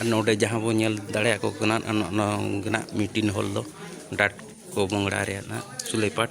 ᱟᱨ ᱱᱚᱰᱮ ᱡᱟᱦᱟᱸ ᱵᱚᱱ ᱧᱮᱞ ᱫᱟᱲᱮᱭᱟᱠᱚ ᱠᱟᱱᱟ ᱱᱚᱝᱠᱟᱱᱟᱜ ᱢᱤᱴᱤᱱ ᱦᱚᱞ ᱫᱚ ᱰᱟᱴ ᱠᱚ ᱵᱚᱝᱲᱟ ᱨᱮᱭᱟᱜ ᱱᱟᱜ ᱥᱩᱞᱮᱯᱟᱴ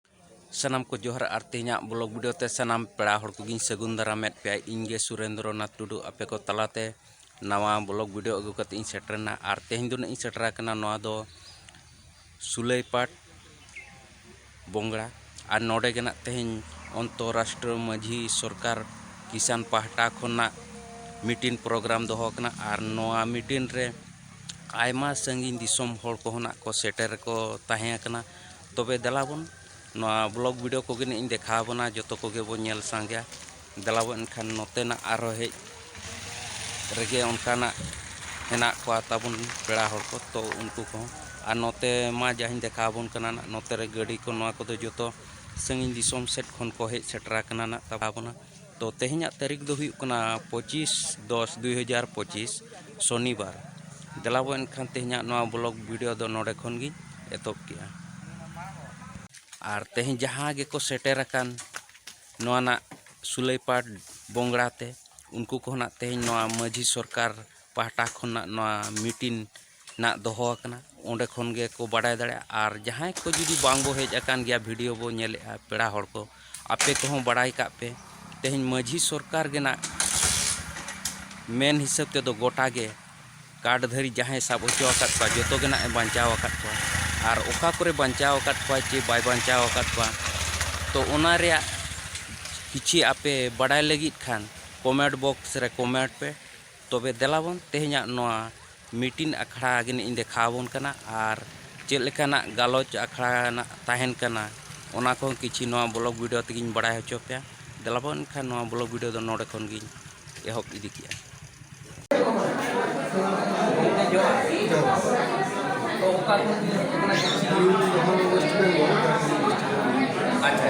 ᱥᱟᱱᱟᱢ ᱠᱚ ᱡᱚᱦᱟᱨ ᱟᱨ ᱛᱮᱦᱮᱧᱟᱜ ᱵᱞᱚᱜ ᱵᱷᱤᱰᱤᱭᱳ ᱛᱮ ᱥᱟᱱᱟᱢ ᱯᱮᱲᱟ ᱦᱚᱲ ᱠᱚᱜᱤᱧ ᱥᱟᱹᱜᱩᱱ ᱫᱟᱨᱟᱢᱮᱫ ᱯᱮᱭᱟ ᱤᱧ ᱜᱮ ᱥᱩᱨᱮᱱᱫᱨᱚ ᱱᱟᱛᱷ ᱴᱩᱰᱩ ᱟᱯᱮ ᱠᱚ ᱛᱟᱞᱟᱛᱮ ᱱᱟᱣᱟ ᱵᱞᱚᱜ ᱵᱷᱤᱰᱤᱭᱳ ᱟᱹᱜᱩ ᱠᱟᱛᱮ ᱤᱧ ᱥᱮᱴᱮᱨᱮᱱᱟ ᱟᱨ ᱛᱮᱦᱮᱧ ᱫᱚ ᱤᱧ ᱥᱮᱴᱮᱨ ᱟᱠᱟᱱᱟ ᱱᱚᱣᱟ ᱫᱚ ᱥᱩᱞᱟᱹᱭᱯᱟᱴ ᱵᱚᱝᱜᱽᱲᱟ ᱟᱨ ᱱᱚᱰᱮ ᱜᱮ ᱱᱟᱜ ᱛᱮᱦᱮᱧ ᱚᱱᱛᱚᱨᱟᱥᱴᱨᱤᱭᱚ ᱢᱟᱹᱡᱷᱤ ᱥᱚᱨᱠᱟᱨ ᱠᱤᱥᱟᱱ ᱯᱟᱦᱴᱟ ᱠᱷᱚᱱᱟᱜ ᱢᱤᱴᱤᱝ ᱯᱨᱳᱜᱨᱟᱢ ᱫᱚᱦᱚ ᱟᱠᱟᱱᱟ ᱟᱨ ᱱᱚᱣᱟ ᱢᱤᱴᱤᱝ ᱨᱮ ᱟᱭᱢᱟ ᱥᱟᱺᱜᱤᱧ ᱫᱤᱥᱚᱢ ᱦᱚᱲ ᱠᱚᱦᱚᱸ ᱱᱟᱜ ᱠᱚ ᱥᱮᱴᱮᱨ ᱠᱚ ᱛᱟᱦᱮᱸ ᱠᱟᱱᱟ ᱛᱚᱵᱮ ᱫᱮᱞᱟ ᱵᱚᱱ ᱱᱚᱣᱟ ᱵᱞᱚᱜᱽ ᱵᱷᱤᱰᱤᱭᱳ ᱠᱚᱜᱮ ᱱᱤᱡ ᱤᱧ ᱫᱮᱠᱷᱟᱣ ᱟᱵᱚᱱᱟ ᱡᱚᱛᱚ ᱠᱚᱜᱮ ᱵᱚᱱ ᱧᱮᱞ ᱥᱟᱸᱜᱮᱭᱟ ᱫᱮᱞᱟ ᱵᱚᱱ ᱮᱱᱠᱷᱟᱱ ᱱᱚᱛᱮᱱᱟᱜ ᱟᱨᱦᱚᱸ ᱦᱮᱡ ᱨᱮᱜᱮ ᱚᱱᱠᱟᱱᱟᱜ ᱦᱮᱱᱟᱜ ᱠᱚᱣᱟ ᱛᱟᱵᱚᱱ ᱯᱮᱲᱟ ᱦᱚᱲ ᱠᱚ ᱛᱚ ᱩᱱᱠᱩ ᱠᱚᱦᱚᱸ ᱟᱨ ᱱᱚᱛᱮ ᱢᱟ ᱡᱟᱦᱟᱸᱧ ᱫᱮᱠᱷᱟᱣ ᱟᱵᱚᱱ ᱠᱟᱱᱟ ᱱᱟᱜ ᱱᱚᱛᱮ ᱨᱮ ᱜᱟᱹᱰᱤ ᱠᱚ ᱱᱚᱣᱟ ᱠᱚᱫᱚ ᱡᱚᱛᱚ ᱥᱟᱺᱜᱤᱧ ᱫᱤᱥᱚᱢ ᱥᱮᱫ ᱠᱷᱚᱱ ᱠᱚ ᱦᱮᱡ ᱥᱮᱴᱮᱨ ᱟᱠᱟᱱᱟ ᱱᱟᱜ ᱛᱟᱵᱚᱱᱟ ᱛᱚ ᱛᱮᱦᱮᱧᱟᱜ ᱛᱟᱹᱨᱤᱠᱷ ᱫᱚ ᱦᱩᱭᱩᱜ ᱠᱟᱱᱟ ᱯᱚᱸᱪᱤᱥ ᱫᱚᱥ ᱫᱩᱭ ᱦᱟᱡᱟᱨ ᱯᱚᱸᱪᱤᱥ ᱥᱚᱱᱤᱵᱟᱨ ᱫᱮᱞᱟᱵᱚ ᱮᱱᱠᱷᱟᱱ ᱛᱮᱦᱮᱧᱟᱜ ᱱᱚᱣᱟ ᱵᱞᱚᱜ ᱵᱷᱤᱰᱤᱭᱳ ᱫᱚ ᱱᱚᱰᱮ ᱠᱷᱚᱱ ᱜᱤᱧ ᱮᱛᱚᱦᱚᱵ ᱠᱮᱜᱼᱟ ᱟᱨ ᱛᱮᱦᱮᱧ ᱡᱟᱦᱟᱸ ᱜᱮᱠᱚ ᱥᱮᱴᱮᱨ ᱟᱠᱟᱱ ᱱᱚᱣᱟ ᱱᱟᱜ ᱥᱩᱞᱟᱹᱭᱯᱟᱴ ᱵᱚᱝᱲᱟ ᱛᱮ ᱩᱱᱠᱩ ᱠᱚᱦᱚᱸ ᱱᱟᱜ ᱛᱮᱦᱮᱧ ᱱᱚᱣᱟ ᱢᱟᱹᱡᱷᱤ ᱥᱚᱨᱠᱟᱨ ᱯᱟᱦᱴᱟ ᱠᱷᱚᱱᱟᱜ ᱱᱚᱣᱟ ᱢᱤᱴᱤᱝ ᱱᱟᱜ ᱫᱚᱦᱚ ᱟᱠᱟᱱᱟ ᱚᱸᱰᱮ ᱠᱷᱚᱱ ᱜᱮᱠᱚ ᱵᱟᱰᱟᱭ ᱫᱟᱲᱮᱭᱟᱜᱼᱟ ᱟᱨ ᱡᱟᱦᱟᱸᱭ ᱠᱚ ᱡᱩᱫᱤ ᱵᱟᱝ ᱵᱚ ᱦᱮᱡ ᱟᱠᱟᱱ ᱜᱮᱭᱟ ᱵᱷᱤᱰᱤᱭᱳ ᱵᱚ ᱧᱮᱞᱮᱜᱼᱟ ᱯᱮᱲᱟ ᱦᱚᱲ ᱠᱚ ᱟᱯᱮ ᱠᱚᱦᱚᱸ ᱵᱟᱲᱟᱭ ᱠᱟᱜ ᱯᱮ ᱛᱮᱦᱮᱧ ᱢᱟᱺᱡᱷᱤ ᱥᱚᱨᱠᱟᱨ ᱜᱮ ᱱᱟᱜ ᱢᱮᱱ ᱦᱤᱥᱟᱹᱵ ᱛᱮᱫᱚ ᱜᱚᱴᱟ ᱜᱮ ᱠᱟᱴ ᱫᱷᱟᱹᱨᱤ ᱡᱟᱦᱟᱸᱭ ᱥᱟᱵ ᱦᱚᱪᱚ ᱟᱠᱟᱫ ᱠᱚᱣᱟ ᱡᱚᱛᱚ ᱜᱮ ᱱᱟᱜ ᱮ ᱵᱟᱧᱪᱟᱣ ᱟᱠᱟᱫ ᱠᱚᱣᱟ ᱟᱨ ᱚᱠᱟ ᱠᱚᱨᱮ ᱵᱟᱧᱪᱟᱣ ᱟᱠᱟᱫ ᱠᱚᱣᱟ ᱪᱮ ᱵᱟᱭ ᱵᱟᱧᱪᱟᱣ ᱟᱠᱟᱫ ᱠᱚᱣᱟ ᱛᱚ ᱚᱱᱟ ᱨᱮᱭᱟᱜ ᱠᱤᱪᱷᱤ ᱟᱯᱮ ᱵᱟᱰᱟᱭ ᱞᱟᱹᱜᱤᱫ ᱠᱷᱟᱱ ᱠᱚᱢᱮᱱᱴ ᱵᱚᱠᱥ ᱨᱮ ᱠᱚᱢᱮᱱᱴ ᱯᱮ ᱛᱚᱵᱮ ᱫᱮᱞᱟᱵᱚᱱ ᱛᱮᱦᱮᱧᱟᱜ ᱱᱚᱣᱟ ᱢᱤᱴᱤᱱ ᱟᱠᱷᱲᱟ ᱜᱮᱱᱟᱜ ᱤᱧ ᱫᱮᱠᱷᱟᱣ ᱟᱵᱚᱱ ᱠᱟᱱᱟ ᱟᱨ ᱪᱮᱫ ᱞᱮᱠᱟᱱᱟᱜ ᱜᱟᱞᱚᱪ ᱟᱠᱷᱲᱟ ᱱᱟᱜ ᱛᱟᱦᱮᱱ ᱠᱟᱱᱟ ᱚᱱᱟ ᱠᱚᱦᱚᱸ ᱠᱤᱪᱷᱤ ᱱᱚᱣᱟ ᱵᱞᱚᱜᱽ ᱵᱷᱤᱰᱤᱭᱳ ᱛᱮᱜᱮᱧ ᱵᱟᱲᱟᱭ ᱦᱚᱪᱚ ᱯᱮᱭᱟ ᱫᱮᱞᱟᱵᱚᱱ ᱮᱱᱠᱷᱟᱱ ᱱᱚᱣᱟ ᱵᱞᱚᱜᱽ ᱵᱷᱤᱰᱤᱭᱳ ᱫᱚ ᱱᱚᱰᱮ ᱠᱷᱚᱱ ᱜᱮᱧ ᱮᱦᱚᱵ ᱤᱫᱤ ᱠᱮᱜᱼᱟ ᱟᱪᱪᱷᱟ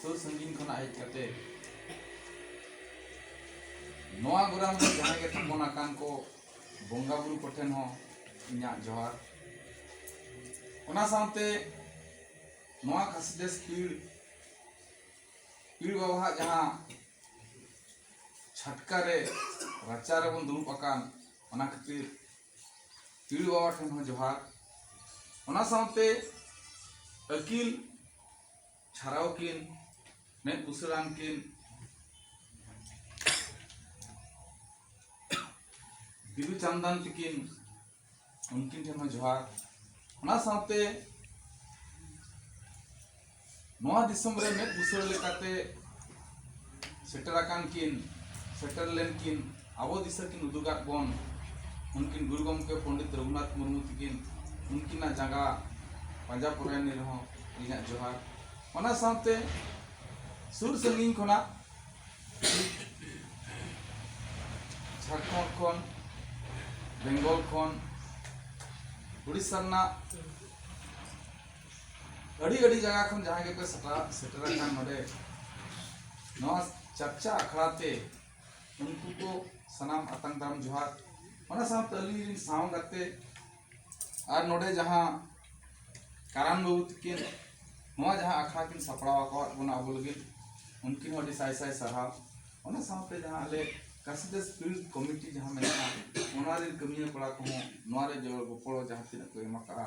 ᱥᱩᱨ ᱥᱟᱺᱜᱤᱧ ᱠᱷᱚᱱᱟᱜ ᱦᱮᱡ ᱠᱟᱛᱮ ᱱᱚᱣᱟ ᱜᱚᱨᱟᱢ ᱨᱮ ᱡᱟᱦᱟᱸᱭ ᱜᱮ ᱛᱷᱟᱯᱚᱱ ᱟᱠᱟᱱ ᱠᱚ ᱵᱚᱸᱜᱟ ᱵᱩᱨᱩ ᱠᱚᱴᱷᱮᱱ ᱦᱚᱸ ᱤᱧᱟᱹᱜ ᱡᱚᱦᱟᱨ ᱚᱱᱟ ᱥᱟᱶᱛᱮ ᱱᱚᱣᱟ ᱠᱷᱟᱥᱤᱰᱮᱥ ᱯᱤᱲ ᱯᱤᱲ ᱵᱟᱵᱟᱣᱟᱜ ᱡᱟᱦᱟᱸ ᱪᱷᱟᱴᱠᱟ ᱨᱮ ᱨᱟᱪᱟ ᱨᱮᱵᱚᱱ ᱫᱩᱲᱩᱵ ᱟᱠᱟᱱ ᱚᱱᱟ ᱠᱷᱟᱹᱛᱤᱨ ᱯᱤᱲ ᱵᱟᱵᱟ ᱴᱷᱮᱱ ᱦᱚᱸ ᱡᱚᱦᱟᱨ ᱚᱱᱟ ᱥᱟᱶᱛᱮ ᱟᱹᱠᱤᱞ ᱪᱷᱟᱨᱟᱣ ᱠᱤᱱ ᱢᱮᱫ ᱵᱩᱥᱟᱹᱲᱟᱱ ᱠᱤᱱ ᱵᱤᱫᱩ ᱪᱟᱱᱫᱟᱱ ᱛᱤᱠᱤᱱ ᱩᱱᱠᱤᱱ ᱴᱷᱮᱱ ᱦᱚᱸ ᱡᱚᱦᱟᱨ ᱚᱱᱟ ᱥᱟᱶᱛᱮ ᱱᱚᱣᱟ ᱫᱤᱥᱚᱢ ᱨᱮ ᱢᱮᱫ ᱵᱩᱥᱟᱹᱲ ᱞᱮᱠᱟᱛᱮ ᱥᱮᱴᱮᱨ ᱟᱠᱟᱱ ᱠᱤᱱ ᱥᱮᱴᱮᱨ ᱞᱮᱱ ᱠᱤᱱ ᱟᱵᱚ ᱫᱤᱥᱟᱹ ᱠᱤᱱ ᱩᱫᱩᱜᱟᱫ ᱵᱚᱱ ᱩᱱᱠᱤᱱ ᱜᱩᱨᱩ ᱜᱚᱢᱠᱮ ᱯᱚᱱᱰᱤᱛ ᱨᱚᱜᱷᱩᱱᱟᱛᱷ ᱢᱩᱨᱢᱩ ᱛᱤᱠᱤᱱ ᱩᱱᱠᱤᱱᱟᱜ ᱡᱟᱸᱜᱟ ᱯᱟᱸᱡᱟ ᱯᱚᱨᱟᱭᱱᱤ ᱨᱮᱦᱚᱸ ᱤᱧᱟᱹᱜ ᱡᱚᱦᱟᱨ ᱚᱱᱟ ᱥᱟᱶᱛᱮ ᱥᱩᱨ ᱥᱟᱺᱜᱤᱧ ᱠᱷᱚᱱᱟᱜ ᱡᱷᱟᱲᱠᱷᱚᱸᱰ ᱠᱷᱚᱱ ᱵᱮᱝᱜᱚᱞ ᱠᱷᱚᱱ ᱩᱲᱤᱥᱥᱟ ᱨᱮᱱᱟᱜ ᱟᱹᱰᱤ ᱟᱹᱰᱤ ᱡᱟᱭᱜᱟ ᱠᱷᱚᱱ ᱡᱟᱦᱟᱸᱭ ᱜᱮᱯᱮ ᱥᱮᱴᱮᱨ ᱥᱮᱴᱮᱨ ᱟᱠᱟᱱ ᱱᱚᱰᱮ ᱱᱚᱣᱟ ᱪᱟᱨᱪᱟ ᱟᱠᱷᱲᱟ ᱛᱮ ᱩᱱᱠᱩ ᱠᱚ ᱥᱟᱱᱟᱢ ᱟᱛᱟᱝ ᱫᱟᱨᱟᱢ ᱡᱚᱦᱟᱨ ᱚᱱᱟ ᱥᱟᱶᱛᱮ ᱟᱹᱞᱤᱧ ᱨᱮᱱ ᱥᱟᱶ ᱜᱟᱛᱮ ᱟᱨ ᱱᱚᱰᱮ ᱡᱟᱦᱟᱸ ᱠᱟᱨᱟᱱ ᱵᱟᱹᱵᱩ ᱛᱟᱹᱠᱤᱱ ᱱᱚᱣᱟ ᱡᱟᱦᱟᱸ ᱟᱠᱷᱲᱟ ᱠᱤᱱ ᱥᱟᱯᱲᱟᱣ ᱟᱠᱟᱫ ᱵᱚᱱᱟ ᱟᱵᱚ ᱞᱟᱹᱜᱤᱫ ᱩᱱᱠᱤᱱ ᱦᱚᱸ ᱟᱹᱰᱤ ᱥᱟᱭ ᱥᱟᱭ ᱥᱟᱨᱦᱟᱣ ᱚᱱᱟ ᱥᱟᱶᱛᱮ ᱡᱟᱦᱟᱸ ᱟᱞᱮ ᱠᱟᱥᱤᱫᱟ ᱥᱯᱤᱨᱤᱴ ᱠᱚᱢᱤᱴᱤ ᱡᱟᱦᱟᱸ ᱢᱮᱱᱟᱜᱼᱟ ᱚᱱᱟ ᱨᱮᱱ ᱠᱟᱹᱢᱤᱭᱟᱹ ᱠᱚᱲᱟ ᱠᱚᱦᱚᱸ ᱱᱚᱣᱟ ᱨᱮ ᱜᱚᱲᱚ ᱜᱚᱯᱚᱲᱚ ᱡᱟᱦᱟᱸ ᱛᱤᱱᱟᱹᱜ ᱠᱚ ᱮᱢ ᱟᱠᱟᱫᱼᱟ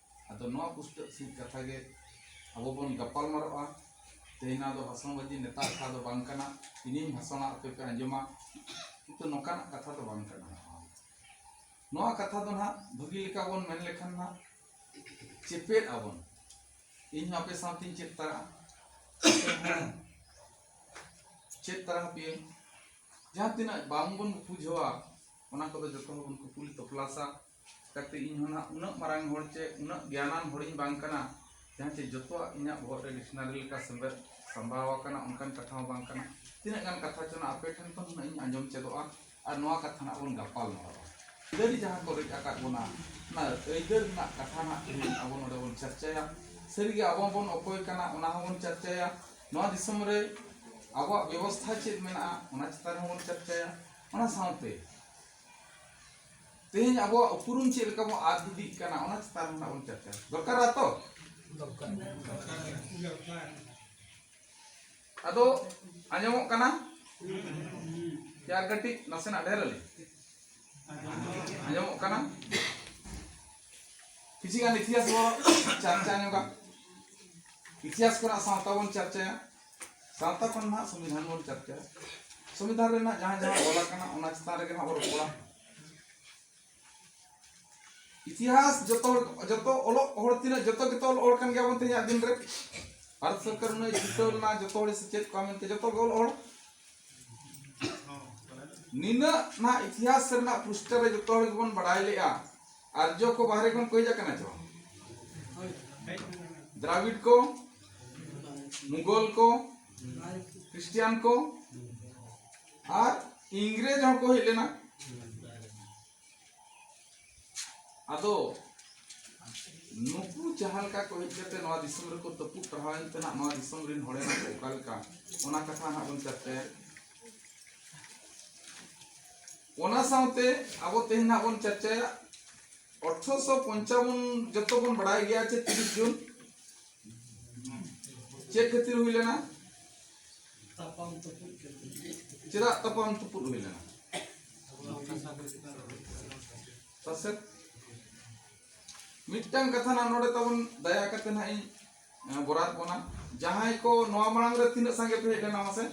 ᱟᱫᱚ ᱱᱚᱣᱟ ᱯᱩᱥᱴᱟᱹᱜ ᱥᱤᱫ ᱠᱟᱛᱷᱟ ᱜᱮ ᱟᱵᱚ ᱵᱚᱱ ᱜᱟᱯᱟᱞ ᱢᱟᱨᱟᱜᱼᱟ ᱛᱮᱦᱮᱧ ᱫᱚ ᱵᱷᱟᱥᱚᱱ ᱵᱟᱡᱤ ᱱᱮᱛᱟᱨ ᱠᱟᱛᱷᱟ ᱫᱚ ᱵᱟᱝ ᱠᱟᱱᱟ ᱤᱧᱤᱧ ᱵᱷᱟᱥᱚᱱᱟ ᱟᱯᱮ ᱯᱮ ᱟᱸᱡᱚᱢᱟ ᱠᱤᱱᱛᱩ ᱱᱚᱝᱠᱟᱱᱟᱜ ᱠᱟᱛᱷᱟ ᱫᱚ ᱵᱟᱝ ᱠᱟᱱᱟ ᱱᱚᱣᱟ ᱠᱟᱛᱷᱟ ᱫᱚ ᱱᱟᱦᱟᱜ ᱵᱷᱟᱹᱜᱤ ᱞᱮᱠᱟ ᱵᱚᱱ ᱢᱮᱱ ᱞᱮᱠᱷᱟᱱ ᱱᱟᱦᱟᱜ ᱪᱮᱯᱮᱫ ᱟᱵᱚᱱ ᱤᱧ ᱦᱚᱸ ᱟᱯᱮ ᱥᱟᱶᱛᱮᱧ ᱪᱮᱫ ᱛᱟᱨᱟᱜᱼᱟ ᱪᱮᱫ ᱛᱟᱨᱟ ᱟᱯᱮᱭᱟᱹᱧ ᱡᱟᱦᱟᱸ ᱛᱤᱱᱟᱹᱜ ᱵᱟᱝᱵᱚᱱ ᱵᱩᱡᱷᱟᱹᱣᱟ ᱚᱱᱟ ᱠᱚᱫᱚ ᱡᱚᱛᱚ ᱦᱚᱲ ᱵᱚᱱ ᱠᱩᱯᱩᱞᱤ ᱛᱚᱯᱞᱟᱥᱟ ᱠᱟᱛᱮ ᱤᱧ ᱦᱚᱸ ᱱᱟᱦᱟᱜ ᱩᱱᱟᱹᱜ ᱢᱟᱨᱟᱝ ᱦᱚᱲ ᱪᱮ ᱩᱱᱟᱹᱜ ᱜᱮᱭᱟᱱᱟᱱ ᱦᱚᱲᱤᱧ ᱵᱟᱝ ᱠᱟᱱᱟ ᱡᱟᱦᱟᱸ ᱪᱮ ᱡᱚᱛᱚᱣᱟᱜ ᱤᱧᱟᱹᱜ ᱵᱚᱦᱚᱜ ᱨᱮ ᱰᱤᱠᱥᱱᱟᱨᱤ ᱞᱮᱠᱟ ᱥᱮᱢᱵᱮᱫ ᱥᱟᱢᱵᱟᱣ ᱟᱠᱟᱱᱟ ᱚᱱᱠᱟᱱ ᱠᱟᱛᱷᱟ ᱦᱚᱸ ᱵᱟᱝ ᱠᱟᱱᱟ ᱛᱤᱱᱟᱹᱜ ᱜᱟᱱ ᱠᱟᱛᱷᱟ ᱪᱚ ᱱᱟᱜ ᱟᱯᱮ ᱴᱷᱮᱱ ᱠᱷᱚᱱ ᱦᱩᱱᱟᱹᱝ ᱤᱧ ᱟᱸᱡᱚᱢ ᱪᱮᱫᱚᱜᱼᱟ ᱟᱨ ᱱᱚᱣᱟ ᱠᱟᱛᱷᱟ ᱱᱟᱜ ᱵᱚᱱ ᱜᱟᱯᱟᱞ ᱢᱟᱨᱟᱣᱟ ᱟᱹᱭᱫᱟᱹᱨ ᱡᱟᱦᱟᱸ ᱠᱚ ᱨᱮᱡ ᱟᱠᱟᱫ ᱵᱚᱱᱟ ᱚᱱᱟ ᱟᱹᱭᱫᱟᱹᱨ ᱨᱮᱱᱟᱜ ᱠᱟᱛᱷᱟ ᱱᱟᱜ ᱛᱮᱦᱮᱧ ᱟᱵᱚ ᱱᱚᱰᱮ ᱵᱚᱱ ᱪᱟᱨᱪᱟᱭᱟ ᱥᱟᱹᱨᱤᱜᱮ ᱟᱵᱚ ᱵᱚᱱ ᱚᱠᱚᱭ ᱠᱟᱱᱟ ᱚᱱᱟ ᱦᱚᱸᱵᱚᱱ ᱪᱟᱨᱪᱟᱭᱟ ᱱᱚᱣᱟ ᱫᱤᱥᱚᱢ ᱨᱮ ᱟᱵᱚᱣᱟᱜ ᱵᱮᱵᱚᱥᱛᱷᱟ ᱪᱮᱫ ᱢᱮᱱᱟᱜᱼᱟ ᱚᱱᱟ ᱪᱮᱛᱟᱱ ᱨᱮᱦᱚᱸ ᱵᱚᱱ ᱪᱟᱨᱪᱟᱭᱟ ᱚᱱᱟ ᱥᱟᱶᱛᱮ ᱛᱮᱦᱮᱧ ᱟᱵᱚᱣᱟᱜ ᱩᱯᱨᱩᱢ ᱪᱮᱫ ᱞᱮᱠᱟ ᱵᱚᱱ ᱟᱫ ᱤᱫᱤᱜ ᱠᱟᱱᱟ ᱚᱱᱟ ᱪᱮᱛᱟᱱ ᱨᱮ ᱵᱚᱱ ᱪᱟᱨᱪᱟ ᱫᱚᱨᱠᱟᱨᱟ ᱛᱚ ᱟᱫᱚ ᱟᱸᱡᱚᱢᱚᱜ ᱠᱟᱱᱟ ᱪᱟᱨ ᱠᱟᱹᱴᱤᱡ ᱱᱟᱥᱮᱱᱟᱜ ᱰᱷᱮᱨ ᱟᱹᱞᱤᱧ ᱟᱸᱡᱚᱢᱚᱜ ᱠᱟᱱᱟ ᱠᱤᱪᱷᱩ ᱜᱟᱱ ᱤᱛᱤᱦᱟᱥ ᱵᱚᱱ ᱪᱟᱨᱪᱟ ᱧᱚᱜᱟ ᱤᱛᱤᱦᱟᱥ ᱠᱚᱨᱮᱱᱟᱜ ᱥᱟᱶᱛᱟ ᱵᱚᱱ ᱪᱟᱨᱪᱟᱭᱟ ᱥᱟᱶᱛᱟ ᱠᱷᱚᱱ ᱱᱟᱦᱟᱜ ᱥᱚᱝᱵᱤᱫᱷᱟᱱ ᱵᱚᱱ ᱪᱟᱨᱪᱟ ᱥᱚᱝᱵᱤᱫᱷᱟᱱ ᱨᱮᱱᱟᱜ ᱡᱟᱦᱟᱸ ᱡᱟᱦᱟᱸ ᱚᱞ ᱟᱠᱟᱱᱟ ᱚᱱᱟ ᱪᱮᱛᱟᱱ ᱨᱮᱜᱮ ᱱᱟᱦᱟᱜ ᱵᱚᱱ ᱨᱚᱯᱚᱲᱟ ᱤᱛᱤᱦᱟᱥ ᱡᱚᱛᱚ ᱡᱚᱛᱚ ᱚᱞᱚᱜ ᱦᱚᱲ ᱛᱤᱱᱟᱹᱜ ᱡᱚᱛᱚ ᱜᱮᱛᱚ ᱚᱞ ᱦᱚᱲ ᱠᱟᱱ ᱜᱮᱭᱟ ᱵᱚᱱ ᱛᱮᱦᱮᱧᱟᱜ ᱫᱤᱱ ᱨᱮ ᱵᱷᱟᱨᱚᱛ ᱥᱚᱨᱠᱟᱨ ᱩᱱᱟᱹᱜ ᱡᱤᱛᱟᱹᱣ ᱞᱮᱱᱟ ᱡᱚᱛᱚ ᱦᱚᱲ ᱥᱮᱪᱮᱫ ᱠᱚᱣᱟ ᱢᱮᱱᱛᱮ ᱡᱚᱛᱚ ᱜᱮ ᱚᱞ ᱦᱚᱲ ᱱᱤᱱᱟᱹᱜ ᱱᱟᱦᱟᱜ ᱤᱛᱤᱦᱟᱥ ᱨᱮᱱᱟᱜ ᱯᱩᱥᱴᱟᱹ ᱨᱮ ᱡᱚᱛᱚ ᱦᱚᱲ ᱜᱮᱵᱚᱱ ᱵᱟᱲᱟᱭ ᱞᱮᱜᱼᱟ ᱟᱨᱡᱚ ᱠᱚ ᱵᱟᱦᱨᱮ ᱠᱷᱚᱱ ᱠᱚ ᱦᱮᱡ ᱟᱠᱟᱱᱟ ᱪᱚ ᱫᱨᱟᱵᱤᱰ ᱠᱚ ᱢᱩᱜᱚᱞ ᱠᱚ ᱠᱨᱤᱥᱴᱤᱭᱟᱱ ᱠᱚ ᱟᱨ ᱤᱝᱨᱮᱡᱽ ᱦᱚᱸ ᱠᱚ ᱦᱮᱡ ᱞᱮᱱᱟ ᱟᱫᱚ ᱱᱩᱠᱩ ᱡᱟᱦᱟᱸ ᱞᱮᱠᱟ ᱠᱚ ᱦᱮᱡ ᱠᱟᱛᱮ ᱱᱚᱣᱟ ᱫᱤᱥᱚᱢ ᱨᱮᱠᱚ ᱛᱟᱹᱯᱩᱫ ᱴᱟᱨᱦᱟᱣ ᱮᱱ ᱛᱮᱱᱟᱜ ᱱᱚᱣᱟ ᱫᱤᱥᱚᱢ ᱨᱮᱱ ᱦᱚᱲ ᱮᱱᱟ ᱠᱚ ᱚᱠᱟ ᱞᱮᱠᱟ ᱚᱱᱟ ᱠᱟᱛᱷᱟ ᱦᱟᱸᱜ ᱵᱚᱱ ᱪᱟᱨᱪᱟᱭᱟ ᱚᱱᱟ ᱥᱟᱶᱛᱮ ᱟᱵᱚ ᱛᱮᱦᱮᱧ ᱱᱟᱜ ᱵᱚᱱ ᱪᱟᱨᱪᱟᱭᱟ ᱚᱴᱷᱨᱚᱥᱚ ᱯᱚᱧᱪᱟᱵᱚᱱ ᱡᱚᱛᱚ ᱵᱚᱱ ᱵᱟᱲᱟᱭ ᱜᱮᱭᱟ ᱪᱮ ᱛᱤᱨᱤᱥ ᱡᱩᱱ ᱪᱮᱫ ᱠᱷᱟᱹᱛᱤᱨ ᱦᱩᱭ ᱞᱮᱱᱟ ᱪᱮᱫᱟᱜ ᱛᱟᱯᱟᱢ ᱛᱩᱯᱩᱫ ᱦᱩᱭ ᱞᱮᱱᱟ ᱥᱟᱥᱮᱛ ᱢᱤᱫᱴᱟᱝ ᱠᱟᱛᱷᱟ ᱱᱟᱜ ᱱᱚᱰᱮ ᱛᱟᱵᱚᱱ ᱫᱟᱭᱟ ᱠᱟᱛᱮ ᱱᱟᱜ ᱤᱧ ᱵᱚᱨᱟᱫ ᱵᱚᱱᱟ ᱡᱟᱦᱟᱸᱭ ᱠᱚ ᱱᱚᱣᱟ ᱢᱟᱲᱟᱝ ᱨᱮ ᱛᱤᱱᱟᱹᱜ ᱥᱟᱸᱜᱮ ᱯᱮ ᱦᱮᱡ ᱞᱮᱱᱟ ᱢᱟᱥᱮ